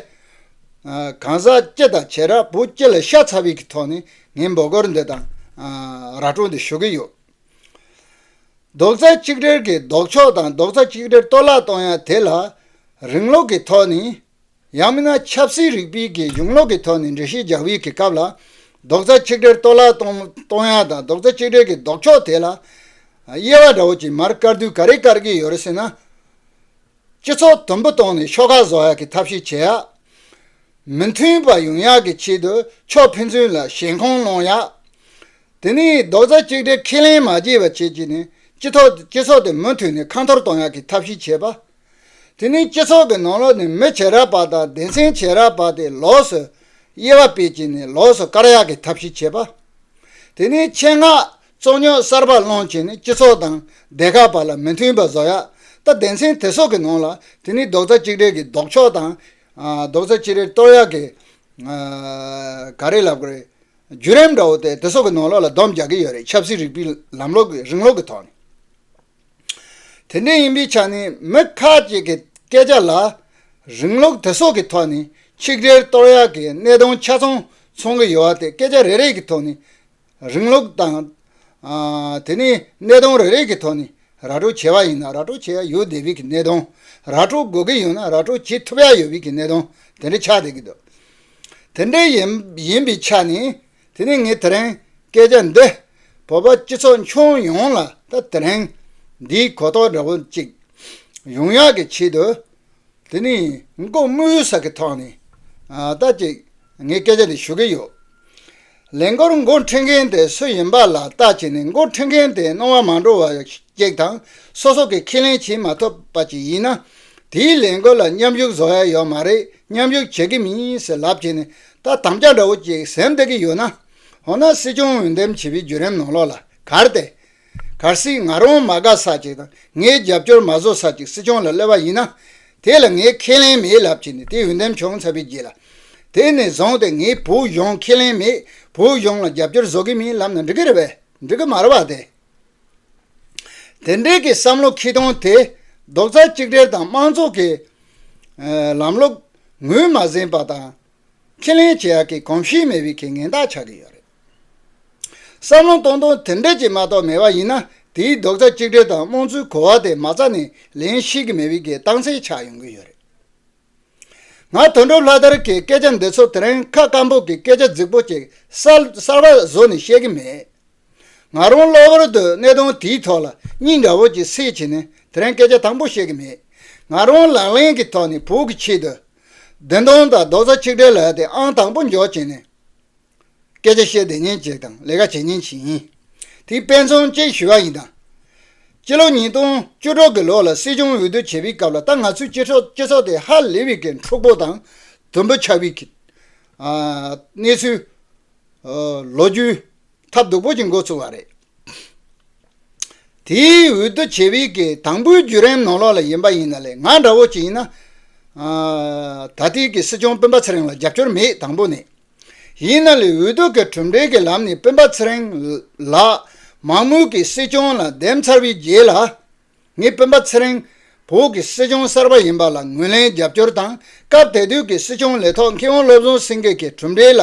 གང་ཟག་སྤྱི་དང་བྱེ་བྲག་བོུ་སྤྱི་ལ་ཤ་ཚ་བའི་གི་ཐོག་ནས་ངས་འབོད་སྐོར་འདི་དང། ར་སྤྲོད་འདི་ཞུ་གི་ཡོད། རྡོག་རྩ་གཅིག་སྒྲིལ་གི་ལྡོག་ཕྱོགས་དང་རྡོག་རྩ་གཅིག་སྒྲིལ་གཏོར་བརླག་གཏོང་ཡག་དེ་ལ། རིང་ལུགས་གི་ཐོག་ནས། ཡང་མིན་ན་ཆབ་སྲིད་རིག་པའི་གི་གཞུང་ལུགས་གི་ཐོག་ནས་འགྲེལ་བཤད་རྒྱག་བའི་གི་སྐབས་ལ། རྡོག་རྩ་གཅིག་སྒྲིལ་གཏོར་བརླག་གཏོང་ཡག་དང་རྡོག་རྩ་གཅིག་སྒྲིལ་གི་ལྡོག་ཕྱོགས་དེ་ལ། དབྱེ་བ་འདྲ་བོ་གཅིག་མར་དཀར་དུས་ག་རེ་དཀར་གི་ཡོད་རེད་ཟེར་ན། སྤྱི་ཚོགས་དུམ་བུ་གཏོང་ནས་ཕྱོགས་ཁག་བཟོ་ཡག་གི་ཐབས་ཤེས་བྱེད་ཡག། མི་མཐུན་པ་ཡོང་ཡག་གི་ཆེད་དུ་ཕྱོགས་ཕན་ཚུན་ལ་ཞེན་ཁོང་གནོང་ཡག། དེ་ནས་རྡོག་རྩ་གཅིག་སྒྲིལ་ཁས་ལེན་མ་བྱེད་པ་བྱེད་ཀྱི་ནས་སྤྱི་ཚོགས་དེ་མུ་མཐུད་ནས་ཁ་འཐོར་གཏོང་ཡག་གི་ཐབས་ཤེས་བྱེད་པ། དེ་ནས་སྤྱི་ཚོགས་ཀྱི་ནང་ལོགས་ནས་མི་བྱེད་ར་བ་དང་སྡེ་ཚན་བྱེད་ར་བ་དེ་ལོགས་སུ་དབྱེ་བ་སྤེལ་གྱི་ནས་ལོགས་སུ་བཀར་ཡག་གི་ཐབས་ཤེས་བྱེད་པ། དེ་ནས་ཆེད་མངགས་རྩོད་རྙོག་གསར་པ་སློང་བྱེད་ནི་སྤྱི་ཚོགས་དང་སྡེ་ཁག་བར་ལ་མི་མཐུན་པ་བཟོ་ཡག་སྟབས་སྡེ་ཚན་དེ་སོགས་ཀྱི་ནང་ལ་དེ་ནི་རྡོག་རྩ་གཅིག་སྒྲིལ་གྱི་ལྡོག་ཕྱོགས་དང། རྡོག་རྩ་གཅིག་རེ་གཏོར་ཡག་གི། ག་རེ་ལབ་གི་རེད། བརྒྱུད་རིམ་འདྲ་བོ་དེ་དེ་སོགས་ཀྱི་ནང་ལོགས་ལ་སྡོམ་རྒྱག་གི་ཡོད་རེད་ཆབ་སྲིད་རིག་པའི་ལམ་ལོག་གི་རིང་ལོགས་ཀྱི་ཐོག་ནས། དེ་འདྲ་ཡིན་པའི་ཆ་ནས་མི་ཁག་ཅིག་གི་སྐད་ཆ་ལ། རིང་ལོགས་དེ་སོགས་ཀྱི་ཐོག་ནས་ཆིག་སྒྲིལ་གཏོར་ཡག་གི་གནད་དོན་ཆ་ཚང་མཚོན་གྱི་ཡོད་བ་དེ་སྐད་ཆ་རེ་རེ་གྱི་ཐོག་ནས་རིང་ལུགས་དང། དེ་ནི་གནས་སྟངས་རེ་རེ་གི་ཐོག་ནས་ར་སྤྲོད་བྱས་པ་ཡིན་ན་ར་སྤྲོད་བྱས་ཡ་ཡོད་བསྡད་བི་གི་གནས་སྟངས། ར་སྤྲོད་དགོས་གི་ཡོད་ན་ར་སྤྲོད་བྱེད་ཐུབ་ཡ་ཡོད་བི་གི་གནས་སྟངས་དེ་འདྲ་ཆགས་བསྡད་གི་འདུག་དེ་འདྲ་ཡིན་ཡིན་པའི་ཆ་ནས་དེ་ནི་ངས་དེ་རིང་སྐད་ཆ་འདི་བོད་པ་སྤྱི་ཚོགས་མཆོང་ཡོངས་ལ་ད་དེ་རིང་འདིའི་གོ་རྟོགས་འདྲ་བོ་ཅིག་ཡོང་ཡ་གི་ཆེད་དུ་དེ་ནི་མགོ་དམུལ་ས་གི་ཐོག་ནས་ད་ཅིག་ངས་སྐད་ཆ་འདི་ཞུ་གི་ཡོད། ལན། སྒོར་མགོ་འཕྲོད་མཁན་དེ་སུ་ཡིན་པ་ལ་བལྟ་བྱས་ནས་མགོ་འཕྲོད་མཁན་དེས་གནོང་བ་མ་འགྲོ་བ་ཅིག་དང་སོ་སོ་གིས་ཁས་ལེན་བྱེད་མ་ཐུབ་པ་ཅིག་ཡིན་ན། དེའི་ལས་འགུལ་ལ་མཉམ་ཞུགས་བཟོ་ཡ་ཡོད་མ་རེད་མཉམ་ཞུགས་བྱེད་ཀྱི་མིན་ཟེར་ལབ་བྱས་ནས་ད་དམ་བཅའ་འདྲ་བོ་ཅིག་ཟེར་འདོད་ཀྱི་ཡོད་ན། འོ་ན་སྲིད་སྐྱོང་འོས་འདེམས་བྱེད་པའི་བརྒྱུད་རིམ་ནང་ལོགས་ལ་གར་ཏེ། གལ་སྲིད་ང་རང་མ་དགའ་ས་ཅིག་དང་ངའི་རྒྱབ་སྐྱོར་མ་བཟོ་ས་ཅིག་སྲིད་སྐྱོང་ལ་གློད་པ་ཡིན་ན། དེ་ལ་ངས་ཁས་ལེན་མེད་ལབ་ཀྱི་ནི་དེ་འོས་འདེམས་བྱུང་ཚར་བའི་རྗེས་ལ། དེ་ནས་བཟུང་སྟེ་ངས་བོད་གཞུང་ཁས་ལེན་མེད་བོད་གཞུང་ལ་རྒྱབ་སྐྱོར་བཟོ་གི་མིན་ལབ་ན་འགྲིག་གི་རེད་པས་འགྲིག་གི་མ་རེད་པ་དེ། དེ་འདྲའི་གི་བསམ་བློ་ཁེ་གདོང་དེ་རྡོག་རྩ་གཅིག་སྒྲིལ་དང་དམངས་གཙོ་གི་ལམ་ལུགས་ངོས་མ་ཟིན་པ་དང། ཁས་ལེན་བྱེད་ཡག་གི་གོམས་གཤིས་མེད་པའི་གི་ངན་རྟགས་ཆགས་ཀྱི་ཡོད་རེད། བསམ་བློ་གཏོང་སྟངས་དེ་འདྲ་ཅིག་མ་གཏོགས་མེད་པ་ཡིན་ན་དེའི་རྡོག་རྩ་གཅིག་སྒྲིལ་དང་རྨོངས་ཚུལ་གོ་བ་དེ་མ་རྩ་ནས་ལེན་ཤེས་ཀྱི་མེད་པའི་གི་སྟངས་འཚལ་ཆགས་ཡོང་གི་ཡོད་རེད། ང་དོན་གྲུབ་ལྷ་དར་གྱི་སྐད་ཆ་འདི་ཚོ་དེ་རིང་ཁ་སྐམ་པོ་གི་སྐད་ཆ་རྫིག་པོ་ཅིག་གསར་པ་བཟོ་ནས་བཤད་གི་མེད། ང་རང་གློ་བུར་དུ་གནད་དོན་དེའི་ཐོག་ལ་སྙིང་དགའ་བོ་ཅིག་སེ་བྱས་ནས་དེ་རིང་སྐད་ཆ་དང་པོ་བཤད་གི་མེད། ང་རང་ལག་ལེན་གྱི་ཐོག་ནས་བོད་ཀྱི་ཆེད་དུ་བདེན་དོན་དང་རྡོག་རྩ་གཅིག་སྒྲིལ་ལ་དེ་ཨང་དང་པོ་འཇོག་བྱས་ནས། སྐད་ཆ་བཤད་བདེ་ཉན་བྱེད་དང་ལས་ཀ་བྱེད་ཉན་བྱེད་ཡིན། དེའི་དཔེ་མཚོན་གཅིག་ཞུ་བ་ཡིན་དང། སྤྱི་ལོ་ཉིས་སྟོང་བཅུ་དྲུག་གི་ལོ་ལ་སྲིད་སྐྱོང་འོས་བསྡུ་བྱས་པའི་སྐབས་ལ་ད་ང་ཚོའི་སྤྱི་ཚོགས་དེ་ཧ་ལི་བི་ཀའི་འཁྲུག་པོ་དང་དུམ་བུ་ཆགས་བི་ཀའི་གནས་ཚུལ་ལོ་རྒྱུས་ཐབས་སྡུག་པོ་ཅིག་འགོ་ཚུགས་བ་རེད། དེའི་འོས་བསྡུ་བྱས་བི་ཀའི་དང་པོའི་བརྒྱུད་རིམ་ནང་ལོགས་ལ་ཡིན་པ་ཡིན་ན་ལས་ང་འདྲ་བོ་ཅིག་ཡིན་ན། ད་ལྟའི་གི་སྲིད་སྐྱོང་སྤེན་པ་ཚེ་རིང་ལ་རྒྱབ་སྐྱོར་མེད་དང་པོ་ནས། ཡིན་ན་ལས་འོས་བསྡུ་གི་གྲུབ་འབྲས་ཀྱི་ལམ་ནས་སྤེན་པ་ཚེ་རིང་ལགས་མང་མོས་ཀྱི་སྲིད་སྐྱོང་ལ་འདེམས་ཚར་བའི་རྗེས་ལ། ངས་སྤེན་པ་ཚེ་རིང་བོད་ཀྱི་སྲིད་སྐྱོང་གསར་པ་ཡིན་པ་ལ་ངོས་ལེན་རྒྱབ་སྐྱོར་དང་སྐབས་དེ་དུས་ཀྱི་སྲིད་སྐྱོང་ལས་ཐོག་མཁས་དབང་བློ་བཟང་སེང་གེ་གི་གྲུབ་འབྲས་ལ་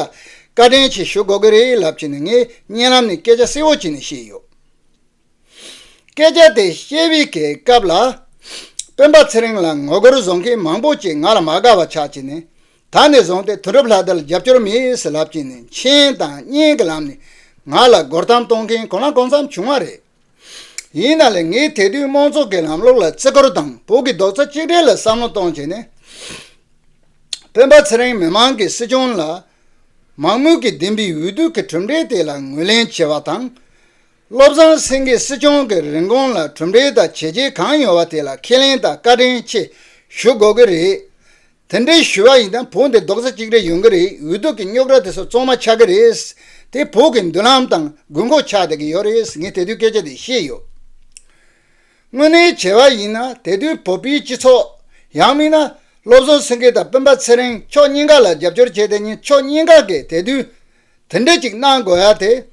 བཀའ་དྲིན་ཆེ་ཞུ་དགོས་ཀྱི་རེད་ལབ་ཀྱི་ནས་ངས་བརྙན་ལམ་ནས་སྐད་ཆ་གསལ་བོ་བྱས་ནས་བཤད་ཡོད། སྐད་ཆ་དེ་བཤད་བི་གའི་སྐབས་ལ། སྤེན་པ་ཚེ་རིང་ལ་ངོ་རྒོལ་བཟོ་མཁན་མང་པོ་ཅིག་ང་ལ་མ་དགའ་བ་ཆགས་ཀྱི་ནས་ད་ནས་བཟུང་སྟེ་དོན་གྲུབ་ལྷ་དར་ལ་རྒྱབ་སྐྱོར་མེད་ལབ་ཀྱི་ནས་མཆན་དང་བརྙན་གྱི་ལམ་ནས་ང་ལ་རྒོལ་གཏམ་གཏོང་མཁན་གང་ལ་གང་འཚམ་བྱུང་བ་རེད། ཡིན་ན་ལེ་ངས་དེ་དུས་དམངས་གཙོ་གི་ལམ་ལུགས་ལ་བརྩི་བཀུར་དང་བོད་ཀྱི་རྡོག་རྩ་གཅིག་སྒྲིལ་ལ་བསམ་བློ་གཏོང་ཀྱི་ནས། སྤེན་པ་ཚེ་རིང་མི་མང་གི་སྲིད་སྐྱོང་ལ། མང་མོས་ཀྱིས་འདིམས་པའི་འོས་བསྡུ་གི་གྲུབ་འབྲས་དེ་ལ་ངོས་ལེན་བྱེད་པ་དང། བློ་བཟང་སེང་གེས་སྲིད་སྐྱོང་གི་རིན་གོང་ལ་གྲུབ་འབྲས་དང་བྱས་རྗེས་གང་ཡོད་བ་དེ་ལ་ཁས་ལེན་དང་བཀའ་དྲིན་ཆེ་ཞུ་དགོས་ཀྱི་རེད། དེ་འདྲའི་ཞུ་བ་ཡིན་ན་བོད་འདི་རྡོག་རྩ་གཅིག་རེད་ཡོང་གི་རེད་འུ་ཐུག་གི་རྙོག་དྲ་དེ་ཚོ་གཙང་མ་ཆགས་ཀྱི་རེད། དེ་བོད་ཀྱི་མདུན་ལམ་དང་དགོས་མཁོ་ཆགས་བསྡད་ཀྱི་ཡོད་རེད་ངས་དེ་དུས་སྐད་ཆ་དེ་ཤེས་ཡོད། དངོས་གནས་བྱས་བ་ཡིན་ན་དེ་དུས་བོད་པའི་སྤྱི་ཚོགས། ཡང་མིན་ན། བློ་བཟང་སེང་གེ་དང་སྤུན་པ་ཚེ་རིང་མཆོག་གཉིས་ཀ་ལ་རྒྱབ་སྐྱོར་བྱས་དེ་གཉིས་ཕྱོགས་གཉིས་ཀ་གིས་དེ་དུས། དེ་འདྲ་ཅིག་གནང་དགོས་ཡ་དེ།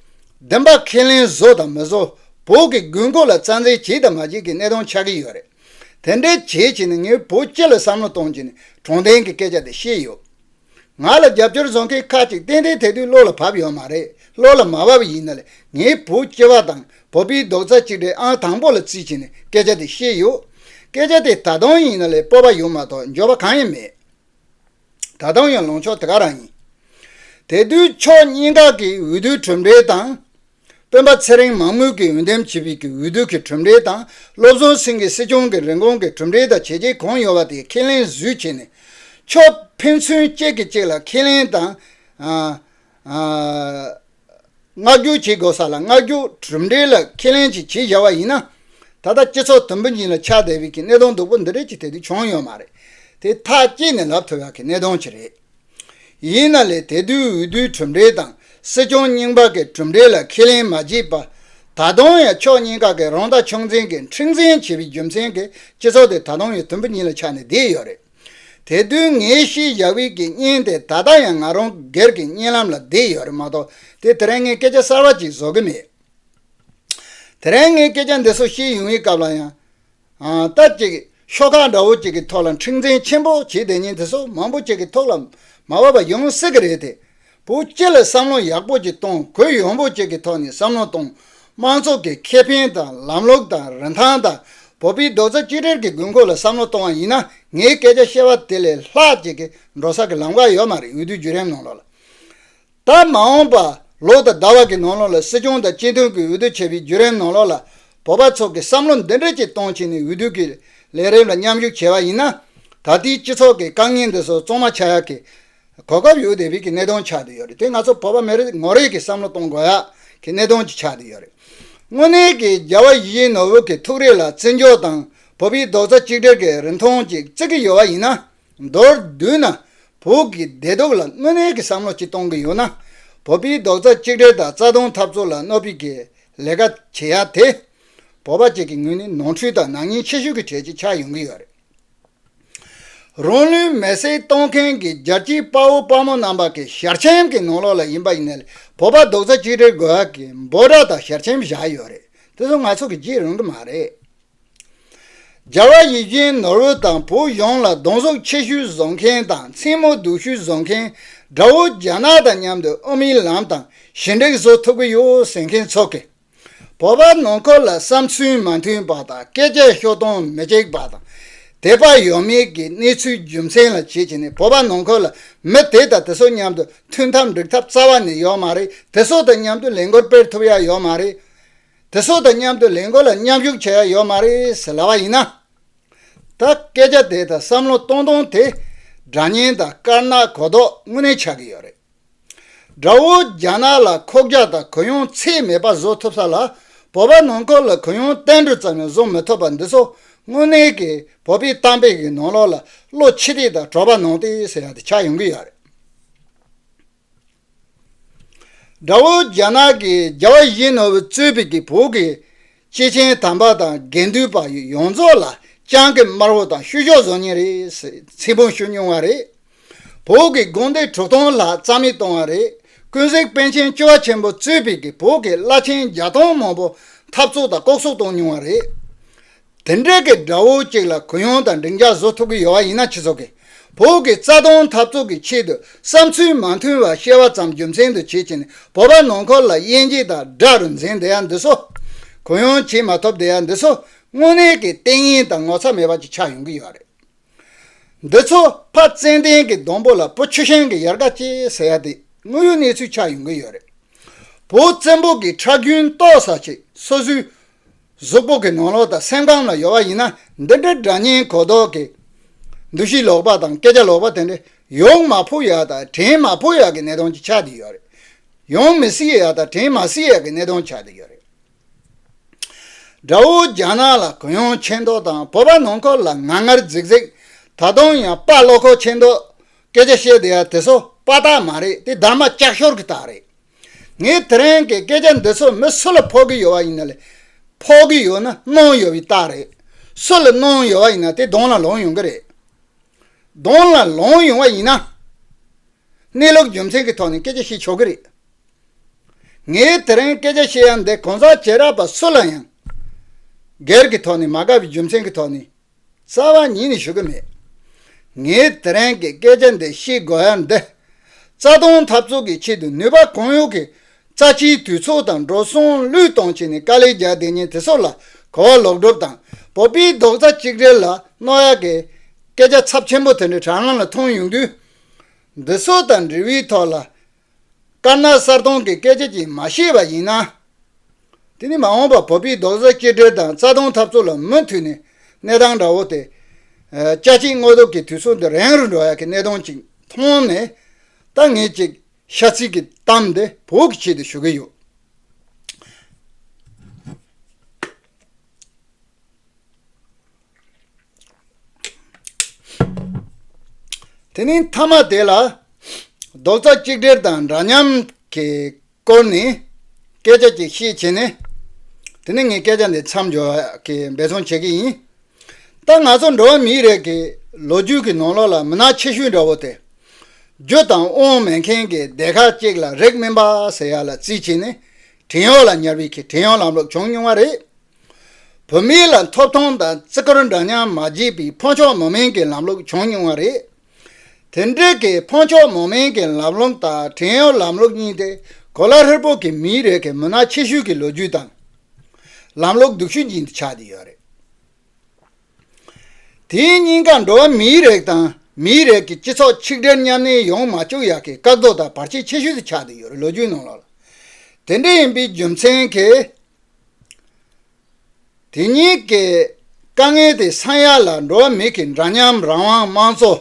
བདེན་པ་ཁས་ལེན་བཟོ་དང་མི་བཟོ་བོད་ཀྱི་དགོས་མཁོ་ལ་རྩ་འཛེག་བྱེད་དང་མ་བྱེད་ཀྱི་གནས་སྟངས་ཆགས་ཀྱི་ཡོད་རེད། དེ་འདྲའི་བྱེད་བྱེད་ནས་ངས་བོད་སྤྱི་ལ་བསམ་བློ་གཏོང་བྱེད་ནས་དྲང་བདེན་གྱི་སྐད་ཆ་དེ་བཤད་ཡོད། ང་ལ་རྒྱབ་སྐྱོར་བཟོ་མཁན་ཁག་ཅིག་ཏན་ཏན་དེ་དུས་བློ་ལ་བབས་ཡོད་མ་རེད་བློ་ལ་མ་བབས་ཡིན་ན་ལས་ངས་བོད་སྤྱི་བ་དང་བོད་པའི་རྡོག་རྩ་གཅིག་སྒྲིལ་ཨང་དང་པོ་ལ་བརྩིས་བྱེད་ནས་སྐད་ཆ་དེ་བཤད་ཡོད། སྐད་ཆ་དེ་ད་དུང་ཡིན་ན་ལས་སྤོབས་པ་ཡོད་མ་གཏོགས་འབྱོར་བ་གང་ཡང་མེད། ད་དུང་ཡང་ལངས་ཕྱོགས་དེ་ག་རང་ཡིན། དེ་དུས་ཕྱོགས་གཉིས་ཀ་གི་འོས་བསྡུའི་གྲུབ་འབྲས་དང། སྤེན་པ་ཚེ་རིང་མང་མོས་ཀྱིས་འོས་འདེམས་བྱས་པའི་གི་འོས་བསྡུ་གི་གྲུབ་འབྲས་དང་བློ་བཟང་སེང་གེ་སྲིད་སྐྱོང་གི་རིན་གོང་གི་གྲུབ་འབྲས་དང་བྱས་རྗེས་གང་ཡོད་པ་དེ་ཁས་ལེན་བཟོས་བྱས་ནས། ཕྱོགས་ཕན་ཚུན་གཅིག་གིས་གཅིག་ལ་ཁས་ལེན་དང། མངགས་བསྒྱུར་བྱེད་དགོས་ས་ལ་མངགས་བསྒྱུར་གྲུབ་འབྲས་ལ་ཁས་ལེན་ཅིག་བྱེད་བཞག་པ་ཡིན་ན། ད་ལྟ་སྤྱི་ཚོགས་དུམ་བུ་གཉིས་ལ་ཆགས་བསྡད་པའི་གི་གནད་དོན་སྡུག་པོ་འདི་རིགས་ཀྱི་ཐད་དུ་བྱུང་ཡོད་མ་རེད། དེ་ཐག་བཅད་ནས་ལབ་ཐུབ་ཡག་གི་གནད་དོན་ཅིག་རེད། ཡིན་ན་ལས་དེ་དུས་འོས་བསྡུའི་གྲུབ་འབྲས་དང་སྲིད་སྐྱོང་རྙིང་པ་གི་གྲུབ་འབྲས་ལ་ཁས་ལེན་མ་བྱས་པར། ད་དུང་ཡང་ཕྱོགས་གཉིས་ཀ་གི་རང་ལྟ་ཆུང་འཛིན་གྱི་འཁྲིག་འཛིན་བྱེད་པའི་རྒྱུ་མཚན་གྱིས་སྤྱི་ཚོགས་དེ་ད་དུང་ཡང་དུམ་བུ་གཉིས་ལ་ཆགས་ནས་བསྡད་ཡོད་རེད། དེ་དོན་ངས་ཤེས་ཡ་ཝི་ཀི་བརྙན་དེ་ད་ལྟ་ཡང་ང་རང་སྒེར་གྱི་བརྙན་ལམ་ལ་བསྡད་ཡོད་རེད་མ་གཏོགས་དེ་དེ་རིང་ངས་སྐད་ཆ་གསར་བ་གཅིག་བཟོ་གི་མེད། དེ་རིང་ངས་སྐད་ཆ་འདི་ཚོ་བཤད་ཡུན་བའི་སྐབས་ལ་ཡང། རྟ་གཅིག་ཤོག་ཁག་འདྲ་བོ་གཅིག་གི་ཐོག་ལ་འཁྲིག་འཛིང་ཆེན་པོ་བྱེད་བསྡད་ཉིན་དེ་ཚོ་མང་པོ་གཅིག་གི་ཐོག་ལ་མ་བབས་པ་ཡོང་སྲིད་གི་རེད་དེ། བུ་བཅས་ལ་བསམ་བློ་ཡག་པོ་ཅིག་གཏོང་དགོས་ཡོང་བུ་བཅས་ཀྱི་ཐོག་ནས་བསམ་བློ་གཏོང་དམངས་ཚོགས་ཀྱི་ཁེ་ཕན་དང་ལམ་ལུགས་དང་རིན་ཐང་དང་བོད་པའི་རྡོག་རྩ་གཅིག་སྒྲིལ་གྱི་དགོས་མཁོ་ལ་བསམ་བློ་གཏོང་བ་ཡིན་ན་ངའི་སྐད་ཆ་བཤད་པ་དེ་ལས་ལྷག་ཅིག་གིས་འགྲོ་ས་ཀྱི་ལམ་ཀ་ཡོད་མ་རེད་འོས་བསྡུའི་བརྒྱུད་རིམ་ནང་ལོགས་ལ་དང་མ་འོངས་པ་ལོ་དང་ཟླ་བ་གྱི་ནང་ལོགས་ལ་སྲིད་སྐྱོང་དང་སྤྱི་མཐུན་གྱི་འོས་བསྡུ་བྱས་པའི་བརྒྱུད་རིམ་ནང་ལོགས་ལ་བོད་པ་ཚོགས་ཀྱི་བསམ་བློ་འདི་འདྲ་ཅིག་གཏོང་ཆེད་ནས་འོས་བསྡུ་གྱི་ལས་རིམ་ལ་མཉམ་ཞུགས་བྱས་པ་ཡིན་ན་ད་ལྟའི་སྤྱི་ཚོགས་ཀྱི་དཀའ་ངལ་འདི་ཚོ་གཙང་མ་ཆགས་ཡག་གི་གོ་སྐབས་ཡོད་དེ་རིགས་ཀྱི་གནད་དོན་ཆགས་བསྡད་ཡོད་རེད་དེ་ང་ཚོ་བོད་པ་མི་རིགས་ངོ་རིགས་ཀྱི་བསམ་བློ་གཏོང་དགོས་ཡག་གི་གནད་དོན་ཅིག་ཆགས་བསྡད་ཡོད་རེད། དངོས་གནས་ཀྱི་རྒྱ་བ་ཡིད་བཞིན་ནོར་བུ་གི་ཐུགས་རེ་ལ་བརྩི་འཇོག་དང་བོད་པའི་རྡོག་རྩ་གཅིག་སྒྲིལ་གྱི་རིན་ཐང་ཅིག་བརྩི་གི་ཡོད་བ་ཡིན་ན། མདོར་བསྡུས་ན་བོད་ཀྱི་བདེ་སྡུག་ལ་དངོས་གནས་ཀྱི་བསམ་བློ་ཅིག་གཏོང་གི་ཡོད་ན། བོད་པའི་རྡོག་རྩ་གཅིག་སྒྲིལ་དང་རྩ་དོན་འཐབ་རྩོད་ལ་གནོད་ཕིགས་ཀྱི་ལས་ཀ་བྱེད་ཡག་དེ། བོད་པ་བཅས་ཀྱི་ངོས་ནས་ནོར་འཁྲུལ་དང་ནག་ཉེས་ཆེ་ཤོས་ཀྱི་གྲས་ཅིག་ཆགས་ཡོང་གི་ཡོད་རེད། རང་ལུས་མེར་སྲེག་གཏོང་མཁན་གྱི་རྒྱལ་སྤྱིའི་དཔའ་བོ་དཔའ་མོ་རྣམ་པ་གི་ཞལ་ཆེམས་ཀྱི་ནང་ལོགས་ལ་ཡིན་པ་ཡིན་ནའི་བོད་པ་རྡོག་རྩ་གཅིག་སྒྲིལ་དགོས་ཡག་གི་འབོད་སྒྲ་དང་ཞལ་ཆེམས་བཞག་ཡོད་རེད་དེ་ཚོ་ང་ཚོ་གི་བརྗེད་རུང་གི་མ་རེད། རྒྱ་བལ་ཡུལ་གྱིན་ནོར་བུ་དང་བོད་གཞུང་ལ་གདོང་གཟུགས་ཆེ་ཤོས་བཟོ་མཁན་དང་མཚན་མོ་སྡུག་ཤོས་བཟོ་མཁན་དགྲ་བོ་རྒྱ་ནག་དང་མཉམ་དུ་ཨོ་མིའི་ལམ་དང་ཞི་འགྲིག་བཟོ་ཐུབ་གི་ཡོད་ཟེར་མཁན་ཚོ་གིས། བོད་པ་ནང་ཁུལ་ལ་བསམ་ཚུལ་མ་མཐུན་པ་དང་སྐད་ཆ་ཤོད་སྟངས་མི་གཅིག་པ་དང། དད་པ་ཡོད་མེད་ཀྱི་གནས་ཚུལ་རྒྱུ་མཚན་ལ་བྱེད་ཀྱི་ནི་བོད་པ་ནང་ཁུལ་ལ་མི་དེ་དང་དེ་སོགས་མཉམ་དུ་མཐུན་ཐབས་འགྲིག་ཐབས་རྩ་བ་ནས་ཡོད་མ་རེད་དེ་སོགས་དང་མཉམ་དུ་ལས་འགུལ་སྤེལ་ཐུབ་ཡ་ཡོད་མ་རེད། དེ་སོགས་དང་མཉམ་དུ་ལས་འགུལ་ལ་མཉམ་ཞུགས་བྱེད་ཡ་ཡོད་མ་རེད་ཟེར་ལབ་པ་ཡིན་ན། ད་སྐད་ཆ་དེ་དང་བསམ་བློ་གཏོང་སྟངས་དེ་སྒྲ་སྙན་དང་དཀར་ནག་གོ་ལྡོག་དངོས་གནས་ཆགས་ཀྱི་ཡོད་རེད། དགྲ་བོ་རྒྱ་ནག་ལ་ཁོག་རྒྱག་དང་གུ་ཡངས་ཚད་མེད་པ་བཟོ་ཐུབ་ས་ལ་བོད་པ་ནང་ཁུལ་ལ་གུ་ཡངས་བསྟན་འགྲོ་ཙམ་ཡང་བཟོ་མི་ཐུབ་པ་འདི་ཚོ་དངོས་གནས་ཀྱི་བོད་པའི་གཏམ་དཔེ་གི་ནང་ལོག་ལ་བློ་ཕྱི་རིག་དང་གྲོགས་པ་ནང་བསྟན་ཟེར་ཡག་དེ་ཆགས་ཡོང་གི་ཡོད་རེད། དགྲ་བོ་རྒྱ་ནག་གི་རྒྱ་བ་བཞིན་ནོར་བུ་རྩོད་པའི་གི་བོད་ཀྱི་སྐྱེས་ཆེན་དམ་པ་དང་དགེ་འདུན་པ་ཡོངས་རྫོགས་ལ་སྤྱང་ཀི་དམར་བོ་དང་བཤུ་གཞོག་ཟོ་ཉེ་རེད། ཚིག་འབུམ་ཤོད་ཉུང་བ་རེད། བོད་ཀྱི་དགོན་སྡེ་དྲུག་སྟོང་ལྷག་རྩ་མེད་བཏང་བ་རེད། ཀུན་གཟིགས་པཎ་ཆེན་བཅུ་བ་ཆེན་པོ་གཙོས་པའི་གིས་བོད་ཀྱི་བླ་ཆེན་བརྒྱ་སྟོང་མང་པོ་འཐབ་རྩོད་དང་ལྐོག་གསོད་བཏང་ཉུང་བ་རེད། དེ་འདྲའི་གི་དགྲ་བོ་གཅིག་ལ་གུ་ཡངས་དང་འགྲིག་འཇགས་བཟོ་ཐུབ་གི་ཡོད་བ་ཡིན་ན་སྤྱི་ཚོགས་ཀྱི་བོད་ཀྱི་རྩ་དོན་འཐབ་རྩོད་ཀྱི་ཆེད་དུ་བསམ་ཚུལ་མ་མཐུན་བར་བཤད་བ་ཙམ་རྒྱུ་མཚན་དུ་བྱེད་ཅིང་བོད་པ་ནང་འཁོར་ལ་དབྱེ་འབྱེད་དང་དགྲ་རུ་འཛིན་བསྡད་ཡ་འདི་ཚོ། གུ་ཡངས་བྱེད་མ་ཐུབ་བསྡད་ཡ་འདི་ཚོ་དངོས་གནས་ཀྱི་གཏན་ཉིན་དང་ངོ་ཚ་མེད་པ་ཅིག་ཆགས་ཡོང་གི་ཡོད་རེད། འདི་ཚོ་ཕ་ཙན་དན་གྱི་སྡོང་པོ་ལ་བུ་ཆུ་ཤིང་གི་ཡར་ཀ་ཅེས་ཟེར་ཡ་དེ་དངོས་ཡོད་གནས་ཚུལ་ཆགས་ཡོང་གི་ཡོད་རེད། བོད་བཙན་པོ་གྱི་ཁྲག་རྒྱུན་གཏོར་ས་ཆེད་སོ་སོའི་གཟུགས་པོ་གི་ནང་ལོགས་དང་སེམས་ཁམས་ལ་ཡོད་པ་ཡིན་ན་འདི་འདྲའི་དགྲ་གཉེན་གོ་ལྡོག་གི་འདུ་ཤེས་ལོག་པ་དང་སྐད་ཆ་ལོག་པ་དེ་འདྲ་ཡོང་མ་ཕོ་ཡག་དང་དྲིན་མ་ཕོ་ཡག་གི་གནས་སྟངས་ཀྱི་ཆགས་ཏེ་ཡོད་རེད། ཡོང་མི་སྲིད་ཡག་དང་དྲིན་མ་སྲིད་ཡག་གི་གནས་སྟངས་ཆགས་ཏེ་ཡོད་རེད། དགྲ་བོ་རྒྱ་ནག་ལ་གུ་ཡངས་ཆེ་མདོག་དང་བོད་པ་ནང་ཁོག་ལ་ངར་ངར་རྫིག་རྫིག་ད་དུང་ཡང་དཔའ་བློ་ཁོག་ཆེ་མདོག་སྐད་ཆ་བཤད་བསྡད་ཡ་དེ་ཚོ་དཔའ་རྟགས་མ་རེད་དེ་སྡར་མ་ལྕགས་ཤོར་གི་རྟགས་རེད། ངས་དེ་རིང་གི་སྐད་ཆ་འདི་ཚོ་མི་སུ་ལ་ཕོག་གི་ཡོད་བ་ཡིན་ན་ལས། ཕོག་གི་ཡོད་ན་གནོང་ཡོད་བའི་རྟགས་རེད། སུ་ལ་གནོང་ཡོད་བ་ཡིན་ན་དེ་གདོང་ལ་ལོངས་ཡོང་གི་རེད། གདོང་ལ་ལོངས་ཡོང་བ་ཡིན་ན། གནས་ལུགས་རྒྱུ་མཚན་གྱི་ཐོག་ནས་སྐད་ཆ་བཤད་ཆོག་གི་རེད། ངས་དེ་རིང་སྐད་ཆ་བཤད་ཡ་འདི་གང་ཟག་བྱེ་བྲག་པ་སུ་ལ་ཡང། སྒེར་གྱི་ཐོག་ནས་མ་དགའ་བའི་རྒྱུ་མཚན་གྱི་ཐོག་ནས་རྩ་བ་ཉིད་ནས་ཞུ་གི་མེད། ངས་དེ་རིང་གི་སྐད་ཆ་འདི་བཤད་དགོས་འདི། རྩ་སྟོང་འཐབ་རྩོད་ཀྱི་ཆེད་དུ་ནུས་པ་གང་ཡོད་ཀྱིས་རྩ་ཆེའི་དུས་ཚོགས་དང་འགྲོ་སོང་བློས་གཏོང་བྱས་ནས་དཀའ་ལས་རྒྱག་བདེ་ཉེས་དེ་སོགས་ལ་གོ་བ་ལོག་སྒྲུབ་དང་བོད་པའི་རྡོག་རྩ་གཅིག་སྒྲིལ་ལ་གནོད་ཡག་གི་སྐད་ཆ་ཚབས་ཆེན་པོ་དེ་འདྲ་དྲ་ལམ་ལ་མཐོང་ཡོང་དུས། འདི་ཚོ་དང་འབྲེལ་བའི་ཐོག་ལ་དཀར་ནག་གསར་མཐོང་གི་སྐད་ཆ་གཅིག་མ་ཤེས་པ་ཡིན་ན། དེ་ནི་མ་འོངས་པར་བོད་པའི་རྡོག་རྩ་གཅིག་སྒྲིལ་དང་རྩ་སྟོང་འཐབ་རྩོད་ལ་མུ་མཐུད་ནས་གནས་སྟངས་འདྲ་བོ་དེ། དཔྱ་ཁྲིད་དངོས་སྟོབས་ཀྱི་དུས་ཚོད་འདི་རན་རུ་འགྲོ་ཡག་གི་གནས་སྟངས་ཅིག་མཐོང་ནས། ད་ངས་ཅིག་ཤ་ཚིག་གི་གཏམ་འདི་བོད་ཀྱི་ཆེད་དུ་ཞུ་གི་ཡོད། དེ་ནས་མཐའ་མ་དེ་ལ་རྡོག་རྩ་གཅིག་སྒྲིལ་དང་འདྲ་མཉམ་གྱི་སྐོར་ནས་སྐད་ཆ་གཅིག་བཤད་བྱས་ནས་དེ་ནས་ངས་སྐད་ཆ་འདི་མཚམས་འཇོག་གི་འབད་བརྩོན་བྱེད་ཀྱི་ཡིན། ད་ང་ཚོ་འགྲོ་བ་མིའི་རིགས་ཀྱི་ལོ་རྒྱུས་ཀྱི་ནང་ལོགས་ལ་མི་ནག་ཆེ་ཤོས་འདྲ་བོ་དེ་རྒྱུ་དང་དབང་མེད་མཁན་གྱི་སྡེ་ཁག་གཅིག་ལ་རིགས་མིན་པ་ཟེར་ཡག་ལ་རྩིས་བྱས་ནས་བྲན་གཡོག་ལ་ཉར་བའི་ཁེ་བྲན་གཡོག་ལམ་ལུགས་བྱུང་མྱོང་བ་རེད། བོད་མི་ལ་འཐོབ་ཐང་དང་བརྩི་བཀུར་འདྲ་མཉམ་མ་བྱས་པའི་འཕོ་འགྱུར་མོ་མན་གྱི་ལམ་ལུགས་བྱུང་མྱོང་བ་རེད། དེ་འབྲེལ་གྱི་འཕོ་འགྱུར་མོ་མན་གྱི་ལམ་ལུགས་དང་བྲན་གཡོག་ལམ་ལུགས་གཉིས་དེ་གོ་ལ་ཧྲིལ་པོ་གི་མིའི་རིགས་ཀྱི་མུན་ནག་ཆེ་ཤོས་ཀྱི་ལོ་རྒྱུས་དང། ལམ་ལུགས་སྡུག་ཤོས་ཀྱི་ཆ་དེ་ཡོད་རེད། དེའི་སྙིང་ཁ་འགྲོ་བ་མིའི་རིགས་དང་མིའི་རིགས་ཀྱི་སྤྱི་ཚོགས་ཆིག་སྒྲིལ་མཉམ་གནས་ཡོང་མ་བཅུག་ཡག་གི་བཀག་རྡོ་དང་བར་ཆད་ཆེ་ཤོས་ཀྱི་ཆ་དེ་ཡོད་རེད་ལོ་རྒྱུས་ནང་ལོགས་ལ་དེ་འདྲ་ཡིན་པའི་རྒྱུ་མཚན་གྱིས། དེ་གཉིས་ཀྱི་དཀའ་ངལ་དེ་ས་ཡ་ལ་འགྲོ་བ་མིའི་འདྲ་མཉམ་རང་དབང་དམངས་གཙོ་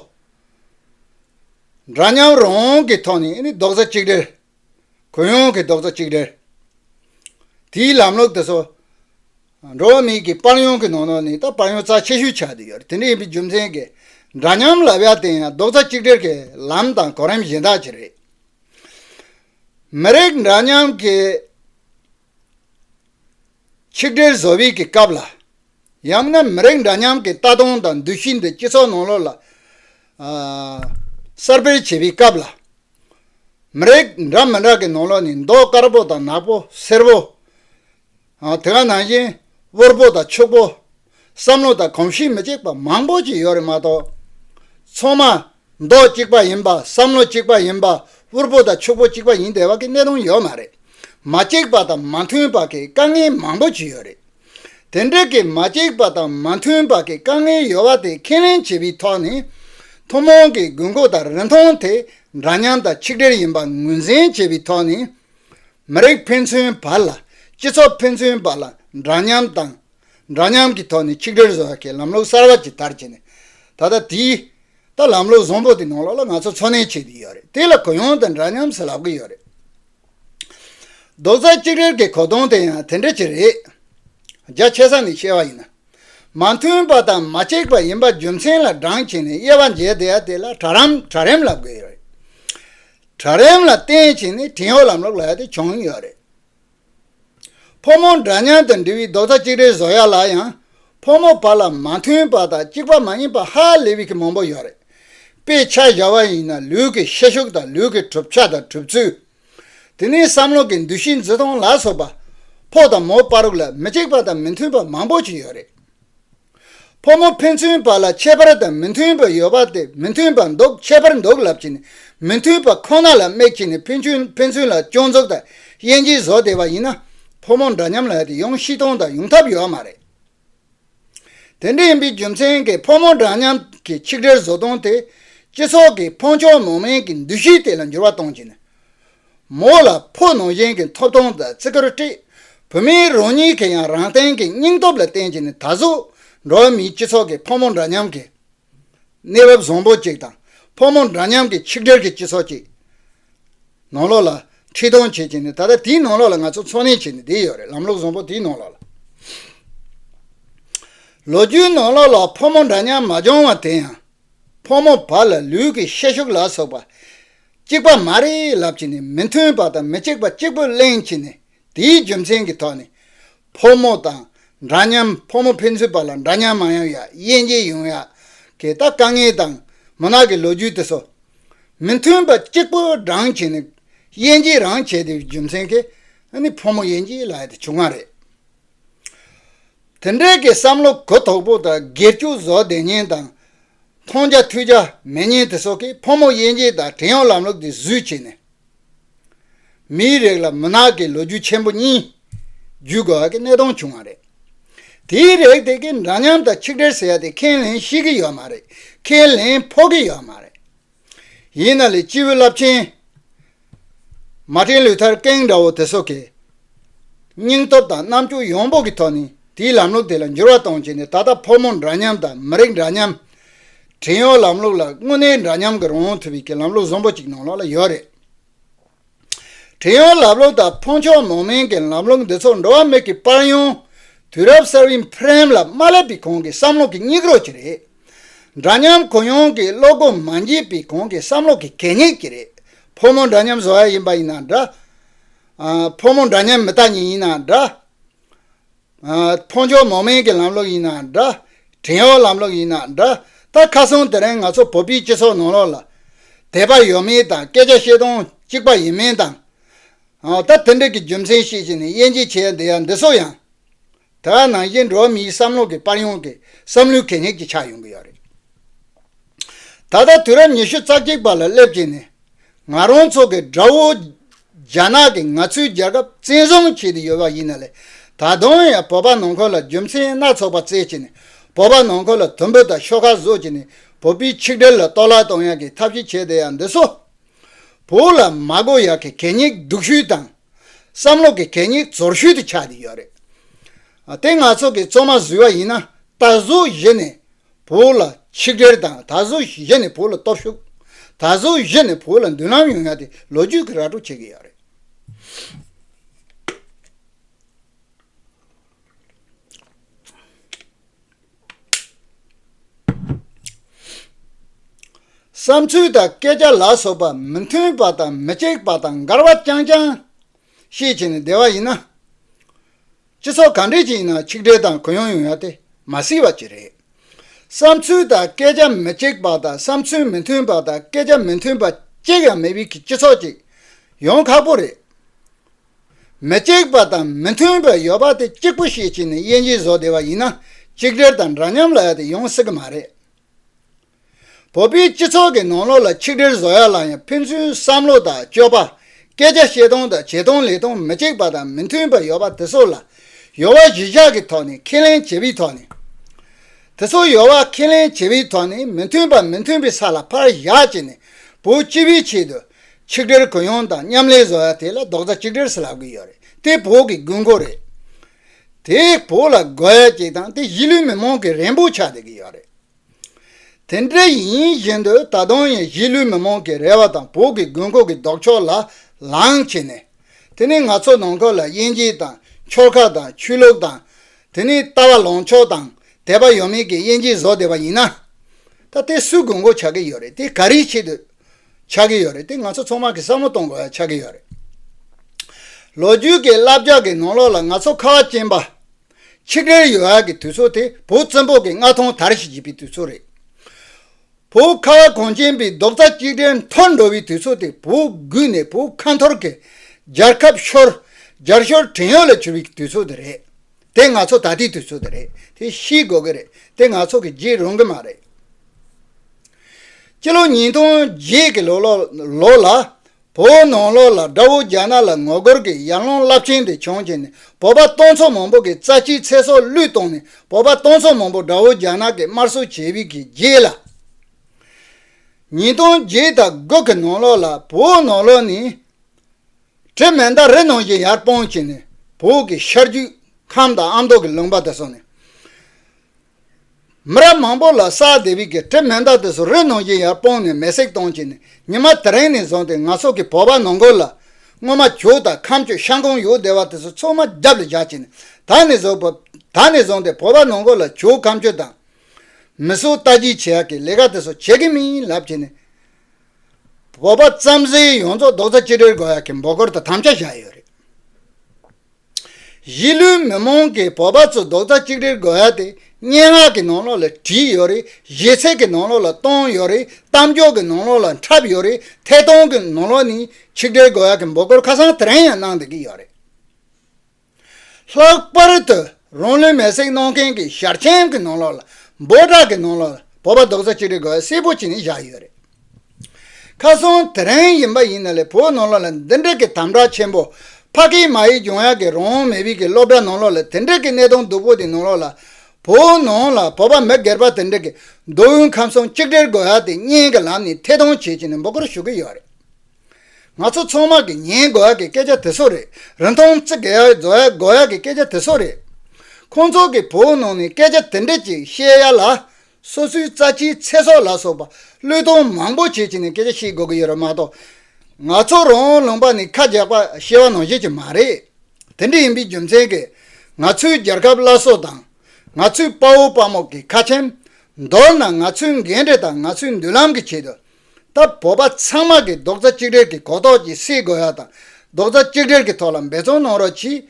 འདྲ་མཉམ་རང་དབང་གི་ཐོག་ནས་རྡོག་རྩ་གཅིག་སྒྲིལ་གུ་ཡངས་ཀྱི་རྡོག་རྩ་གཅིག་སྒྲིལ་དེའི་ལམ་ལུགས་དེ་ཚོ་འགྲོ་བ་མིའི་དཔལ་ཡོན་གྱི་ནང་ནས་དཔལ་ཡོན་རྩ་ཆེ་ཤོས་ཆགས་ཏེ་ཡོད་རེད་དེ་འདྲ་ཡིན་པའི་རྒྱུ་མཚན་གྱིས་འདྲ་མཉམ་ལབ་ཡ་དེ་ཡང་རྡོག་རྩ་གཅིག་སྒྲིལ་གྱི་ལམ་དང་གོ་རིམ་གཞན་དག་གིས་རེད། མི་རིགས་འདྲ་མཉམ་གྱི། ཆིག་སྒྲིལ་བཟོ་བའི་གི་སྐབས་ལ། ཡང་ན་མི་རིགས་འདྲ་མཉམ་གྱི་ལྟ་སྟངས་དང་འདུ་ཤེས་འདི་སྤྱི་ཚོགས་ནང་ལོགས་ལ། གསར་སྤེལ་བྱེད་པའི་སྐབས་ལ། མི་རིགས་འདྲ་མི་འདྲ་གི་ནང་ལོགས་ནས་མདོག་དཀར་པོ་དང་ནག་པོ་སེར་པོ། དེ་ག་ནང་བཞིན་དབུལ་པོ་དང་ཕྱུག་པོ། བསམ་བློ་དང་གོམས་གཤིས་མི་གཅིག་པ་མང་པོ་ཞིག་ཡོད་རེད་མ་གཏོགས། ཚང་མ། མདོག་གཅིག་པ་ཡིན་པ་བསམ་བློ་གཅིག་པ་ཡིན་པ་དབུལ་པོ་དང་ཕྱུག་པོ་གཅིག་པ་ཡིན་དེ་བ་གི་གནས་དོན་ཡོད་མ་རེད། མ་གཅིག་པ་དང་མ་མཐུན་པ་གི་དཀའ་ངལ་མང་པོ་ཞིག་ཡོད་རེད། དེ་འདྲ་གི་མ་གཅིག་པ་དང་མ་མཐུན་པ་གི་དཀའ་ངལ་ཡོད་བ་དེ་ཁས་ལེན་བྱེད་པའི་ཐོག་ནས། ཐུན་མོང་གི་དགོས་མཁོ་དང་རིན་ཐང་དེ་འདྲ་མཉམ་དང་ཆིག་སྒྲིལ་ཡིན་པ་ངོས་འཛིན་བྱེད་པའི་ཐོག་ནས། མི་རིགས་ཕན་ཚུན་བར་ལ་སྤྱི་ཚོགས་ཕན་ཚུན་བར་ལ་འདྲ་མཉམ་དང། འདྲ་མཉམ་གྱི་ཐོག་ནས་ཆིག་སྒྲིལ་བཟོ་བའི་ལམ་ལུགས་གསར་བ་ཇི་ལྟར་བྱས་ནས། ད་ལྟ་དེའི་ད་ལམ་ལུགས་བཟང་པོ་དེ་ནང་ལོགས་ལ་ང་ཚོ་འཚོ་གནས་བྱེད་ཀྱི་ཡོད་རེད་དེ་ལ་གུ་ཡངས་དང་འདྲ་མཉམ་ཟེར་ལབ་ཀྱི་ཡོད་རེད། རྡོག་རྩ་གཅིག་སྒྲིལ་གྱི་གོ་དོན་དེ་ཡང་དེ་འདྲ་ཅིག་རེད། རྒྱ་ཆེ་ས་ནས་བཤད་པ་ཡིན་ན། མ་མཐུན་པ་དང་མ་གཅིག་པ་ཡིན་པ་རྒྱུ་མཚན་ལ་འགྲངས་བྱས་ནས་དབྱེ་བ་འབྱེད་བསྡད་ཡ་དེ་ལ་གྲ་རམ་གྲ་རེམ་ལབ་དགོས་ཡོད་རེད། གྲྭ་རིམ་ལ་བརྟེན་ཕྱིན་ནས་བྲན་གཡོག་ལམ་ལུགས་ལ་ཡ་དེ་བྱུང་ཡོད་རེད། ཕོ་མོ་འདྲ་མཉམ་དུ་འབྲི་བའི་རྡོག་རྩ་གཅིག་སྒྲིལ་བཟོ་ཡ་ལ་ཡང་ཕོ་མོ་བར་ལ་མ་མཐུན་པ་དང་གཅིག་པ་མ་ཡིན་པ་ཧ་ལས་པའི་གི་མང་པོ་ཡོད་རེད། དཔེ་ཆ་གཞར་བ་ཡིན་ན་ལུས་ཀྱི་ཤེད་ཤུགས་དང་ལུས་ཀྱི་གྲུབ་ཆ་དང་གྲུབ་ཚུལ། དེ་ནས་བསམ་བློ་གྱི་འདུ་ཤེས་འཛིན་སྟངས་ལ་སོགས་པ། ཕོ་དང་མོ་བར་ལ་མི་གཅིག་པ་དང་མི་མཐུན་པ་མང་པོ་ཞིག་ཡོད་རེད། ཕོ་མོ་ཕན་ཚུན་བར་ལ་ཁྱད་པར་དང་མི་མཐུན་པ་ཡོད་པ་དེ་མི་མཐུན་པ་འདོགས་ཁྱད་པར་འདོགས་ལབ་ཀྱི་ནི་མི་མཐུན་པ་ཁོ་ན་ལ་དམིགས་ཀྱི་ནི་ཕན་ཚུན་ཕན་ཚུན་ལ་སྐྱོན་འཛུགས་དང་དབྱེ་འབྱེད་བཟོ་བདེ་བ་ཡིན་ན་ཕོ་མོ་འདྲ་མཉམ་ལ་དེ་ཡོང་ཤི་ཐོང་དང་ཡོང་ཐབས་ཡོད་མ་རེད། དེ་འདྲ་ཡིན་པའི་རྒྱུ་མཚན་གྱིས་ཕོ་མོ་འདྲ་མཉམ་གྱི་ཆིག་སྒྲིལ་བཟོ་སྟངས་དེས་སྤྱི་ཚོགས་ཀྱི་ཕོ་མཆོག་མོ་དམན་གྱི་འདུ་ཤེས་དེ་ལ་འགྱུར་བ་གཏོང་གི་ནི་མོ་ལ་ཕོ་ནང་བཞིན་གྱི་འཐོབ་ཐོང་དང་བརྩི་བཀུར་སྤྲད། བུད་མེད་རང་ཉིད་ཀྱིས་ཡང་རང་སྟེང་གི་སྙིང་སྟོབས་ལ་བརྟེན་གྱིས་ནས་ད་གཟོད་འགྲོ་བ་མིའི་སྤྱི་ཚོགས་ཀྱི་ཕོ་མོ་འདྲ་མཉམ་གྱི་གནས་བབ་བཟང་པོ་ཅིག་དང་ཕོ་མོ་འདྲ་མཉམ་གྱི་ཆིག་སྒྲིལ་གྱི་སྤྱི་ཚོགས་ཅིག་ནང་ལོགས་ལ་ཁྲིད་སྟོན་བྱེད་ཀྱིས་ནས་ད་ལྟ་དེའི་ནང་ལོགས་ལ་ང་ཚོ་འཚོ་གནས་བྱེད་ནས་བསྡད་ཡོད་རེད་ལམ་ལུགས་བཟང་པོ་དེའི་ནང་ལོགས་ལ། ལོ་རྒྱུས་ནང་ལོགས་ལ་ཕོ་མོ་འདྲ་མཉམ་མ་བྱུང་བ་དེ་ཡང་ཕོ་མོ་བར་ལ་ལུས་ཀྱི་ཤེད་ཤུགས་ལ་སོགས་པ་གཅིག་པ་མ་རེད་ལབ་ཀྱི་ནི་མི་མཐུན་པ་དང་མི་གཅིག་པ་གཅིག་པོས་གླེང་གི་ནི་དེའི་རྒྱུ་མཚན་གྱི་ཐོག་ནས་ཕོ་མོ་དང་འདྲ་མཉམ་ཕོ་མོ་ཕན་ཚུན་བར་ལ་འདྲ་མཉམ་མ་ཡོང་ཡ་དབྱེ་འབྱེད་ཡོང་ཡ་གི་ད་དཀའ་ངལ་དང་མུན་ནག་གི་ལོ་རྒྱུས་དེ་ཚོ། མི་མཐུན་པ་གཅིག་པོས་བགྲང་གི་ནི་དབྱེ་འབྱེད་རང་བྱས་དེའི་རྒྱུ་མཚན་གྱི་ནི་ཕོ་མོ་དབྱེ་འབྱེད་ལ་ཡ་དེ་བྱུང་བ་རེད། དེ་འདྲའི་གི་བསམ་བློ་གུ་དོག་པོ་དང་སྒེར་གཅོད་བཟོ་བདེ་ཉེན་དང་མཐོང་བྱ་ཐོས་བྱ་མེད་ཉིད་དེ་སོགས་ཀྱིས་ཕོ་མོ་དབྱེ་འབྱེད་དང་བྲན་གཡོག་ལམ་ལུགས་འདི་བཟོས་བྱས་ནས། མིའི་རིགས་ལ་མུན་ནག་གི་ལོ་རྒྱུས་ཆེན་པོ་གཉིས་བརྒྱུད་དགོས་བ་ཀྱི་གནད་དོན་བྱུང་བ་རེད། དེའི་རེག་དེ་ཀྱིས་འདྲ་མཉམ་དང་ཆིག་སྒྲིལ་ཟེར་བ་དེ་ཁས་ལེན་ཤེས་ཀྱི་ཡོད་མ་རེད་ཁས་ལེན་ཕོག་གི་ཡོད་མ་རེད། ཡིན་ན་ལས་སྤྱི་བོའི་རླབས་ཆེན། མ་སྤྲིན་ལུས་མཐར་སྐེང་འདྲ་བོ་དེ་སོགས་ཀྱི། སྙིང་སྟོབས་དང་རྣམ་འགྱུར་ཡོངས་དཔོག་གི་ཐོག་ནས་དེའི་ལམ་ལུགས་དེ་ལ་འགྱུར་བ་གཏོང་བྱེད་ནི་ད་ལྟ་ཕོ་མོ་འདྲ་མཉམ་དང་མི་རིགས་འདྲ་མཉམ། བྲིན་གཡོག་ལམ་ལུགས་ལ་དངོས་གནས་འདྲ་མཉམ་གྱི་རང་དབང་ཐུབ་ཡོད་ཀྱི་ལམ་ལུགས་བཟང་པོ་གཅིག་ནང་ལོགས་ལ་ཡོད་རེད། བྲན་གཡོག་ལབ་ལོབ་དང་འཕོངས་ཆོག་ནོངས་དམན་གྱི་ལམ་ལུགས་འདི་ཚོ་འགྲོ་བ་མིག་གི་པར་ཡང། དུས་རབས་གསར་བའི་འཕེལ་རིམ་ལ་མ་སླེབས་པའི་གོང་གི་བསམ་བློ་གི་སྙིགས་རོ་གཅིག་རེད། འདྲ་མཉམ་གུ་ཡངས་ཀྱི་བློ་སྒོ་མ་འབྱེད་པའི་གོང་གི་བསམ་བློ་གི་གད་སྙིགས་གཅིག་རེད། ཕོ་མོ་འདྲ་མཉམ་བཟོ་བ་ཡིན་པ་ཡིན་ན་འདྲ། ཕོ་མོ་འདྲ་མཉམ་མི་ལྟ་ཉན་ཡིན་ན་འདྲ། མཐོང་ཆོག་མོག་མེན་གྱི་ལམ་ལོག་ཡིན་ནའང་འདྲ། བྲན་གཡོག་ལམ་ལོག་ཡིན་ནའང་འདྲ། ད་ཁ་སང་དེ་རིང་ང་ཚོ་བོད་པའི་སྤྱི་ཚོགས་ནང་ལོག་ལ། དད་པ་ཡོད་མིན་དང་སྐད་ཆ་བཤད་སྟངས་གཅིག་པ་ཡིན་མིན་དང། ད་དེ་འདྲ་གི་རྒྱུ་མཚན་ཤེས་བྱས་ནས་དབྱེ་འབྱེད་བྱས་ཡ་འདི་ཡ་འདི་སོགས་ཡང། དེ་བ་ནང་བཞིན་འགྲོ་བ་མིའི་བསམ་བློ་གི་པར་ཡོང་གི་བསམ་བློའི་གད་སྙིགས་ཀྱི་ཆགས་ཡོང་གི་ཡོད་རེད། ད་ལྟ་དུས་རབས་ཉི་ཤུ་རྩ་གཅིག་པ་ལ་སླེབས་རྗེས་ནས། ང་རང་ཚོ་གི་དགྲ་བོ། རྒྱ་ནག་གིས་ང་ཚོའི་རྒྱལ་ཁབ་བཙན་བཟུང་བྱས་ཏེ་ཡོད་པ་ཡིན་ན་ལས་ད་དུང་ཡང་བོད་པ་ནང་ཁུལ་ལ་རྒྱུ་མཚན་སྣ་ཚོགས་པ་བཙལ་བྱས་ནས་བོད་པ་ནང་ཁུལ་ལ་དུམ་བུ་དང་ཤོག་ཁ་བཟོ་བྱས་ནས་བོད་པའི་ཆིག་སྒྲིལ་ལ་གཏོར་བརླག་གཏོང་ཡག་གི་ཐབས་ཤེས་བྱས་བསྡད་ཡག་འདུག་སོ། བོད་ལ་མ་གོ་ཡག་གི་གད་སྙིགས་སྡུག་ཤོས་དང། བསམ་བློ་གི་གད་སྙིགས་འཛོར་ཤོས་དུ་ཆགས་བསྡད་ཡོད་རེད། དེ་ང་ཚོ་གི་གཙོ་མ་བཟོས་པ་ཡིན་ན་ད་གཟོད་གཞི་ནས་བུ་ལ་ཆིག་སྒྲིལ་དང་ད་གཟོད་གཞི་ནས་བུ་ལ་སྟོབས་ཤུགས། ད་གཟོད་གཞི་ནས་བུ་ལ་མདུན་ལམ་ཡོང་ཡ་དེ་ལོ་རྒྱུས་ཀྱི་ར་སྤྲོད་བྱེད་ཀྱི་ཡོད་རེད། བསམ་ཚུལ་དང་སྐད་ཆ་ལ་སོགས་པ་མི་མཐུན་པ་དང་མི་གཅིག་པ་དང་འགལ་བ་རྐྱང་རྐྱང་བཤད་བྱས་ནས་བསྡད་པ་ཡིན་ན། སྤྱི་ཚོགས་གང་འདྲས་ཀྱི་ཡིན་ན་ཆིག་སྒྲིལ་དང་གུ་ཡངས་ཡོང་ཡ་དེ་མ་སྲིད་བ་ཅིག་རེད། བསམ་ཚུལ་དང་སྐད་ཆ་མི་གཅིག་པ་དང་བསམ་ཚུལ་མི་མཐུན་པ་དང་སྐད་ཆ་མི་མཐུན་པ་གཅིག་ཡང་མེད་པའི་སྤྱི་ཚོགས་ཅིག་ཡོང་ཁག་པོ་རེད། མི་གཅིག་པ་དང་མི་མཐུན་པ་ཡོད་པ་དེ་གཅིག་པུ་ཤེས་ཀྱི་ནས་དབྱེ་འབྱེད་བཟོ་བདེ་བ་ཡིན་ན་ཅིག་སྒྲིལ་དང་འདྲ་མཉམ་ལ་ཡ་དེ་ཡོང་སྲིད་ཀྱི་མ་རེད། བོད་པའི་སྤྱི་ཚོགས་ཀྱི་ནང་ལོགས་ལ་ཆིག་སྒྲིལ་བཟོ་ཡ་ལ་ཡང་ཕན་ཚུན་བསམ་བློ་དང་སྤྱོད་པ། སྐད་ཆ་བཤད་སྟངས་དང་བྱེད་སྟངས་ལས་སྟངས་མི་གཅིག་པ་དང་མི་མཐུན་པ་ཡོད་པ་དེ་ཚོ་ལ། ཡོལ་བ་གཞི་བཞག་གི་ཐོག་ནས་ཁས་ལེན་བྱེད་པའི་ཐོག་ནས། དེ་ཚོ་ཡོལ་བ་ཁས་ལེན་བྱེད་པའི་ཐོག་ནས་མི་མཐུན་པ་མི་མཐུན་པའི་ས་ལ་ཕར་བཞག་བྱས་ནས་བོད་སྤྱི་བའི་ཆེད་དུ། ཆིག་སྒྲིལ་གུ་ཡངས་དང་མཉམ་ལས་བཟོ་ཡ་དེ་ལ་རྡོག་རྩ་གཅིག་སྒྲིལ་ལབ་གི་ཡོད་རེད་དེ་བོད་ཀྱི་དགོས་མཁོ་རེད། དེས་བོད་ལ་དགོས་ཡ་གཅིག་དང་དེ་གཞིས་ལུས་མི་མང་གི་རེན་པོ་ཆགས་བསྡད་ཀྱི་ཡོད་རེད། དེ་འདྲ་ཡིན་བཞིན་དུ་ད་དུང་ཡང་གཞིས་ལུས་མི་མང་གིས་རལ་བ་དང་བོད་ཀྱི་དགོས་མཁོ་གི་ལྡོག་ཕྱོགས་ལ་ལངས་བྱས་ནས། དེ་ནི་ང་ཚོ་ནང་ཁུལ་ལ་དབྱེ་འབྱེད་དང་ཕྱོགས་ཁག་དང་ཆོས་ལུགས་དང། དེ་ནི་ལྟ་བ་ལངས་ཕྱོགས་དང་དད་པ་ཡོད་མེད་ཀྱི་དབྱེ་འབྱེད་བཟོ་བསྡད་པ་ཡིན་ན། ད་དེ་སུས་དགོས་མཁོ་ཆགས་ཀྱི་ཡོད་རེད་དེ་ག་རེའི་ཆེད་དུ་ཆགས་ཀྱི་ཡོད་རེད་དེ་ང་ཚོ་ཚང་མ་གི་བསམ་བློ་གཏོང་དགོས་ཡ་ཆགས་ཀྱི་ཡོད་རེད། ལོ་རྒྱུས་ཀྱི་བསླབ་བྱ་གི་ནང་ལོགས་ལ་ང་ཚོ་ཁ་བ་ཅན་པ་ཆིག་སྒྲིལ་ཡོ་ཨ་གི་དུས་ཚོད་དེ་བོད་བཙན་པོ་གི་མངའ་ཐང་དར་ཞིག་བྱེད་པའི་དུས་ཚོད་རེད། བོད་ཁ་བ་གངས་ཅན་པའི་རྡོག་རྩ་གཅིག་སྒྲིལ་མཐོར་འགྲོ་བའི་དུས་ཚོད་དེ་བོད་བརྒྱུད་ནས་བོད་ཁ་འཐོར་གྱི་རྒྱལ་ཁབ་ཤོར། རྒྱལ་ཤོར་བྲན་གཡོག་ལ་གྱུར་བའི་དུས་ཚོད་དེ་རེད། དེ་ང་ཚོ་ད་ལྟའི་དུས་ཚོད་དེ་རེད་དེ་ཤེས་དགོས་ཀྱི་རེད་དེ་ང་ཚོ་གིས་བརྗེད་རུང་གི་མ་རེད། སྤྱི་ལོ་ཉིས་སྟོང་བརྒྱད་ཀྱི་ལོ་ལོ་ལོ་ལ་བོད་ནང་ལོགས་ལ་དགྲ་བོ་རྒྱ་ནག་ལ་ངོ་རྒོལ་གྱི་ཡར་ལངས་རླབས་ཆེན་དེ་བྱུང་རྗེས་ནས་བོད་པ་སྟོང་ཚོ་མང་པོ་གི་རྩ་ཆེའི་ཚེ་སྲོག་བླུས་གཏོང་ནས་བོད་པ་སྟོང་ཚོ་མང་པོ་དགྲ་བོ་རྒྱ་ནག་གི་དམར་གསོད་བྱེད་དབུས་ཀྱི་རྗེས་ལ། ཉིས་སྟོང་བརྒྱད་དང་དགུ་གི་ནང་ལོགས་ལ་བོད་ནང་ལོགས་ནས་དྲི་མེད་མདའ་རེ་ནང་བཞིན་ཡར་སྤང་བྱས་ནས་བོད་ཀྱི་ཤར་རྒྱུད་ཁམས་དང་ཨ་མདོ་གི་ལུང་པ་དང་སོགས་ནས། མི་རབས་མང་པོ་ལ་སཱ་དེ་བིད་ཀྱི་གྲིབ་མེ་མདའ་དེ་ཚོ་རི་ནང་བཞིན་ཡར་སྤུངས་ནས་མེ་བསྲེགས་གཏོང་བྱས་ནས་ཉི་མ་དེ་རིང་ནས་བཟུང་སྟེ་ང་ཚོ་གི་བོད་པ་ནང་ཁུལ་ལ། སྔོན་མ་གྱོད་དང་ཁམས་གྱོད་ཤང་ཁོངས་ཡུལ་སྡེ་བ་དེ་ཚོ་ཚོགས་མ་རྒྱབ་ལ་བཞག་བྱས་ནས་ད་ནས་བཟུང་བོད་ད་ནས་བཟུང་སྟེ་བོད་པ་ནང་ཁུལ་ལ་གྱོད་ཁམས་གྱོད་དང། མི་གསོད་རྟ་རྒྱུག་བྱེད་ཡག་གི་ལས་ཀ་དེ་ཚོ་བྱེད་གི་མིན་ལབ་བྱས་ནས། བོད་པ་རྩམ་ཟན་ཡོངས་རྫོགས་རྡོག་རྩ་གཅིག་སྒྲིལ་དགོས་ཡག་གི་འབོད་སྐུལ་དང་དམ་བཅའ་བཞག་ཡོད་རེད། གཞིས་ལུས་མི་མང་གི་བོད་པ་ཚོས་རྡོག་རྩ་གཅིག་སྒྲིལ་དགོས་ཡ་དེ་སྙན་ངག་གི་ནང་ལོགས་ལ་བྲིས་ཡོད་རེད་གཞས་ཚིག་གི་ནང་ལོགས་ལ་བཏོན་ཡོད་རེད་གཏམ་འཇོག་གི་ནང་ལོགས་ལ་འཁྲབ་ཡོད་རེད་ཐད་གཏོང་གི་ནང་ལོགས་ནས་ཆིག་སྒྲིལ་དགོས་ཡ་གི་འབོད་སྐུལ་ཁ་སང་དེ་རིང་ཡང་གནང་བསྡད་ཀྱི་ཡོད་རེད། ལྷག་པར་དུ་རང་ལུས་མེར་སྲེག་གནང་མཁན་གྱི་ཞར་ཆེན་གི་ནང་ལོགས་ལ་འབོད་སྒྲ་གི་ནང་ལོགས་ལ་བོད་པ་རྡོག་རྩ་གཅིག་སྒྲིལ་དགོས་ཡ་གསལ་པོ་བྱས་ནས་བཞག་ཡོད་རེད། ཁ་སང་དེ་རིང་ཡིན་པ་ཡིན་ན་ལས་བོད་ནང་ལོགས་ལ་འདི་འདྲ་གི་དམ་དྲག་ཆེན་པོ། ཕ་གིའི་མ་ཡི་འབྱུང་ཡག་གི་རང་མི་བིས་གི་སློབ་གྲྭ་ནང་ལོགས་ལ་དེ་འདྲ་གི་གནས་སྟངས་སྡུག་པོ་དེ་ནང་ལོགས་ལ། བོད་ནང་ལ་བོད་པ་མི་སྒེར་པ་དེ་འདྲ་གི་མདོ་དབུས་ཁམས་གསུམ་གཅིག་སྒྲིལ་དགོས་ཡག་དེ་གཉིས་གི་ལམ་ནས་ཐད་གཏོང་བྱེད་ཅིག་ནས་འབོད་སྐུལ་ཞུ་གི་ཡོད་རེད། ང་ཚོ་ཚང་མ་གི་ཉན་དགོས་ཡག་གི་སྐད་ཆ་དེ་སོགས་རེད་རིན་ཐང་བརྩི་དགོས་ཡག་བཟོ་ཡག་དགོས་ཡག་གི་སྐད་ཆ་དེ་སོགས་རེད། ཁོང་ཚོ་གི་བོད་ནང་ནས་སྐད་ཆ་དེ་འདྲ་གཅིག་བཤད་ཡག་ལ། སོ་སོའི་རྩ་ཆེའི་ཚེ་སྲོག་ལ་སོགས་པ་བློས་གཏོང་མང་པོ་བྱེད་ཀྱི་ནས་སྐད་ཆ་བཤད་དགོས་ཀྱི་ཡོད་རེད་མ་གཏོགས། ང་ཚོ་རང་ལུང་པ་ནས་ཁ་རྒྱག་པ་ཤེས་བ་ནང་བཞིན་གྱི་མ་རེད། དེ་འདྲ་ཡིན་པའི་རྒྱུ་མཚན་གྱིས་ང་ཚོའི་རྒྱལ་ཁབ་བླ་སྲོག་དང། ང་ཚོའི་དཔའ་བོ་དཔའ་མོ་གི་ཁ་ཆེམས། མདོར་ན་ང་ཚོའི་འགན་འཁྲི་དང་ང་ཚོའི་མདུན་ལམ་གྱི་ཆེད་དུ། ད་བོད་པ་ཚང་མ་གིས་རྡོག་རྩ་གཅིག་སྒྲིལ་གྱིས་གོ་རྟོགས་ཀྱིས་སྲིད་དགོས་ཡ་དང་རྡོག་རྩ་གཅིག་སྒྲིལ་གྱི་ཐོག་ལ་འབད་བརྩོན་གནང་རོགས་གྱིས།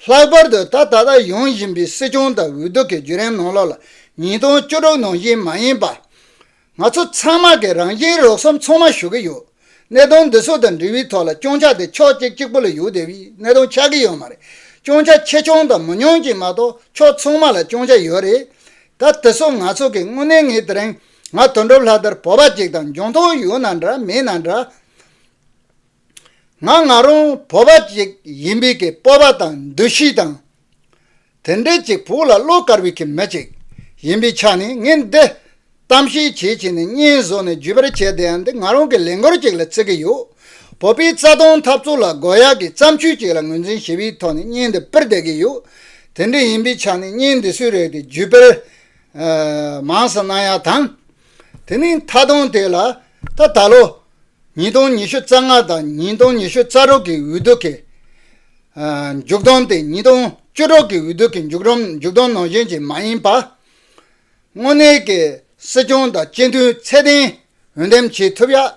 ལྷག་པར་དུ་ད་ད་ལྟ་ཡོང་བཞིན་པའི་སྲིད་སྐྱོང་དང་འོས་བསྡུ་གི་བརྒྱུད་རིམ་ནང་ལོགས་ལ་ཉིས་སྟོང་བཅུ་དྲུག་ནང་བཞིན་མ་ཡིན་པར། ང་ཚོ་ཚང་མ་གིས་རང་བཞིན་རོགས་སོམ་ཚང་མ་ཞུ་གི་ཡོད། གནད་དོན་འདི་ཚོ་དང་འབྲེལ་བའི་ཐོག་ལ་སྐྱོང་ཆ་དེ་ཕྱོགས་གཅིག་གཅིག་པོ་ལ་ཡོད་དེ་བས་གནད་དོན་ཆགས་ཀྱི་ཡོད་མ་རེད། སྐྱོང་ཆ་ཆེ་ཆུང་དང་མི་ཉུང་གཅིག་མ་གཏོགས་ཕྱོགས་ཚང་མ་ལ་སྐྱོང་ཆ་ཡོད་རེད། ད་དེ་ཚོ་ང་ཚོ་གིས་དངོས་གནས་ངས་དེ་རིང། ང་དོན་གྲུབ་ལྷ་དར་བོ་པ་ཅིག་དང་འཇོང་ཐོང་ཡོད་ན་འདྲ་མེད་ན་འདྲ། ང་ང་རང་བོ་པ་ཅིག་ཡིན་པའི་གི་སྤོབས་པ་དང་འདུ་ཤེས་དང། དེ་འདྲའི་ཅིག་བོད་ལ་བློ་དཀར་བའི་གི་མི་ཅིག་ཡིན་པའི་ཆ་ནས་ངས་འདི་གཏམ་བཤད་བྱེད་བྱེད་ནས་བརྙན་བཟོ་ནས་བརྒྱུད་པར་བྱས་དེ་ཡང་འདི་ང་རང་གི་ལས་འགོར་ཅིག་ལ་བརྩི་གི་ཡོད། བོད་པའི་རྩ་དོན་འཐབ་རྩོད་ལ་དགོས་ཡག་གི་བརྩམས་ཆོས་ཅིག་ལ་ངོས་འཛིན་ཞི་བའི་ཐོག་ནས་བརྙན་འདི་སྤེལ་བསྡད་གི་ཡོད། དེ་འདྲ་ཡིན་པའི་ཆ་ནས་བརྙན་འདི་སུས་རེག་སྟེ་བརྒྱུད་སྤེལ་མངས་སུ་སྣང་ཡང་དང། དེ་ནི་མཐའ་སྟོང་དེ་ལ་ད་ད་ལོ་ཉིས་སྟོང་ཉི་ཤུ་རྩ་ལྔ་དང་ཉིས་སྟོང་ཉི་ཤུ་རྩ་དྲུག་གི་འོས་བསྡུ་གི་མཇུག་བསྡོམས་སྟེ་ཉིས་སྟོང་བཅུ་དྲུག་གི་འོས་བསྡུ་གི་མཇུག་བསྡོམས་ནང་བཞིན་གྱི་མ་ཡིན་པར། དངོས་གནས་ཀྱི་སྲིད་སྐྱོང་དང་སྤྱི་འཐུས་ཚད་ལྡན་འོས་འདེམས་བྱེད་ཐུབ་ཡག་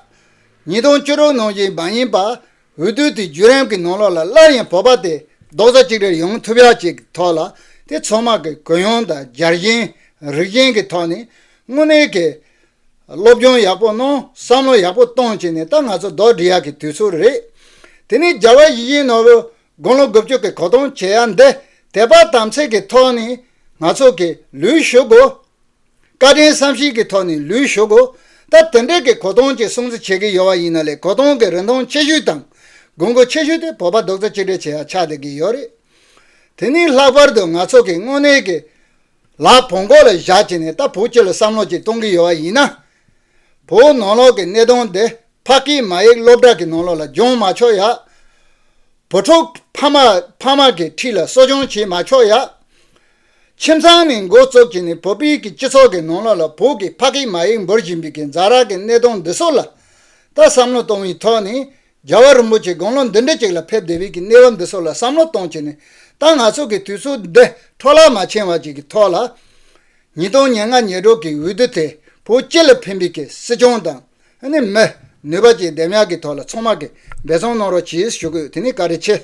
ཉིས་སྟོང་བཅུ་དྲུག་ནང་བཞིན་མ་ཡིན་པར་འོས་བསྡུ་དེ་བརྒྱུད་རིམ་གྱི་ནང་ལོགས་ལ་སླར་ཡང་བོད་པ་དེ་རྡོག་རྩ་གཅིག་སྒྲིལ་ཡོང་ཐུབ་ཡ་བཅས་ཀྱི་ཐོག་ལ་དེ་ཚོགས་དམག་གི་གུ་ཡངས་དང་འཇར་བཞེངས་རིགས་ཞེན་གྱི་ཐོག་ནས་དངོས་གནས་ཀྱི་སློབ་སྦྱོང་ཡག་པོ་གནང་བསམ་བློ་ཡག་པོ་གཏོང་བྱས་ནས་ད་ང་ཚོ་རྡོག་སྒྲིལ་ཡ་གྱི་དུས་ཚོད་རེད། དེ་ནས་རྒྱལ་བ་ཡིད་བཞིན་ནོར་བུ་དགུང་ལོ་དགུ་བཅུ་གྱི་གོ་སྟོང་བྱེད་ཡ་འདི་དད་པ་དམ་ཚིག་གི་ཐོག་ནས་ང་ཚོ་གི་ལུས་ཞུགས་དགོས། བཀའ་དྲིན་བསམ་ཤེས་ཀྱི་ཐོག་ནས་ལུས་ཞུགས། ད་དེ་འབྲེལ་གྱི་གོ་སྟོང་ཅིག་སྲུང་བརྩི་བྱེད་ཀྱི་ཡོད་པ་ཡིན་ན་ལས་གོ་སྟོང་གི་རིན་ཐང་ཆེ་ཤོས་དང་དགོས་མཁོ་ཆེ་ཤོས་དེ་བོད་པ་རྡོག་རྩ་གཅིག་སྒྲིལ་བྱེད་ཡ་ཆགས་བསྡད་ཀྱི་ཡོད་རེད། དེ་ནི་ལྷག་པར་དུ་ང་ཚོ་གི་དངོས་གནས་ཀྱི་ལག་བོང་གོག་ལ་བཞག་ཅིག་ནས་ད་བོད་སྤྱི་ལ་བསམ་བློ་ཅིག་གཏོང་གི་ཡོད་པ་ཡིན་ན། བོད་ནང་ལོག་གི་གནས་སྟངས་འདི་ཕ་སྐད་མ་ཡིག་སློབ་གྲྭ་གི་ནང་ལོག་ལ་སྦྱོང་མ་ཆོག་ཡ། བུ་ཕྲུག་ཕ་མ་ཕ་མ་གི་འཁྲིས་ལ་གསོ་སྦྱོང་བྱེད་མ་ཆོག་ཡ། ཁྱིམ་ཚང་ནི་མགོ་བཙུགས་ཀྱི་ནི་བོད་པའི་གི་སྤྱི་ཚོགས་ཀྱི་ནང་ལོགས་ལ་བོད་ཀྱི་ཕ་གིས་མ་ཡིག་འབུར་བཞིན་པའི་གི་འཛ་རག་གི་གནས་སྟངས་འདི་སོགས་ལ་ད་བསམ་བློ་གཏོང་བའི་ཐོག་ནས་རྒྱལ་བ་རིན་པོ་ཆེ་དགོངས་ཀློང་འདི་འདྲི་ཅིག་ལ་ཕེབས་བདེ་བའི་གི་གནས་བབ་འདི་སོགས་ལ་བསམ་བློ་གཏོང་ཆེ་ནས་ད་ང་ཚོ་གི་དུས་ཚོད་འདི་འཕྲོ་བརླག་མ་ཕྱིན་བར་གྱི་གི་ཐོག་ལ། ཉིས་སྟོང་ཉེར་ལྔ་ཉེར་དྲུག་གི་འོས་བསྡུ་དེ་བོད་སྤྱི་ལ་ཕན་པའི་གི་སྲིད་སྐྱོང་དང་ནི་མི་ནུས་པ་བཅས་ལྡེམ་ཡག་གི་ཐོག་ལ་ཚང་མ་གི་འབད་བརྩོན་གནང་རོགས་གྱིས་ཞུ་དགོས་དེ་ནི་ག་རེ་ཆེ།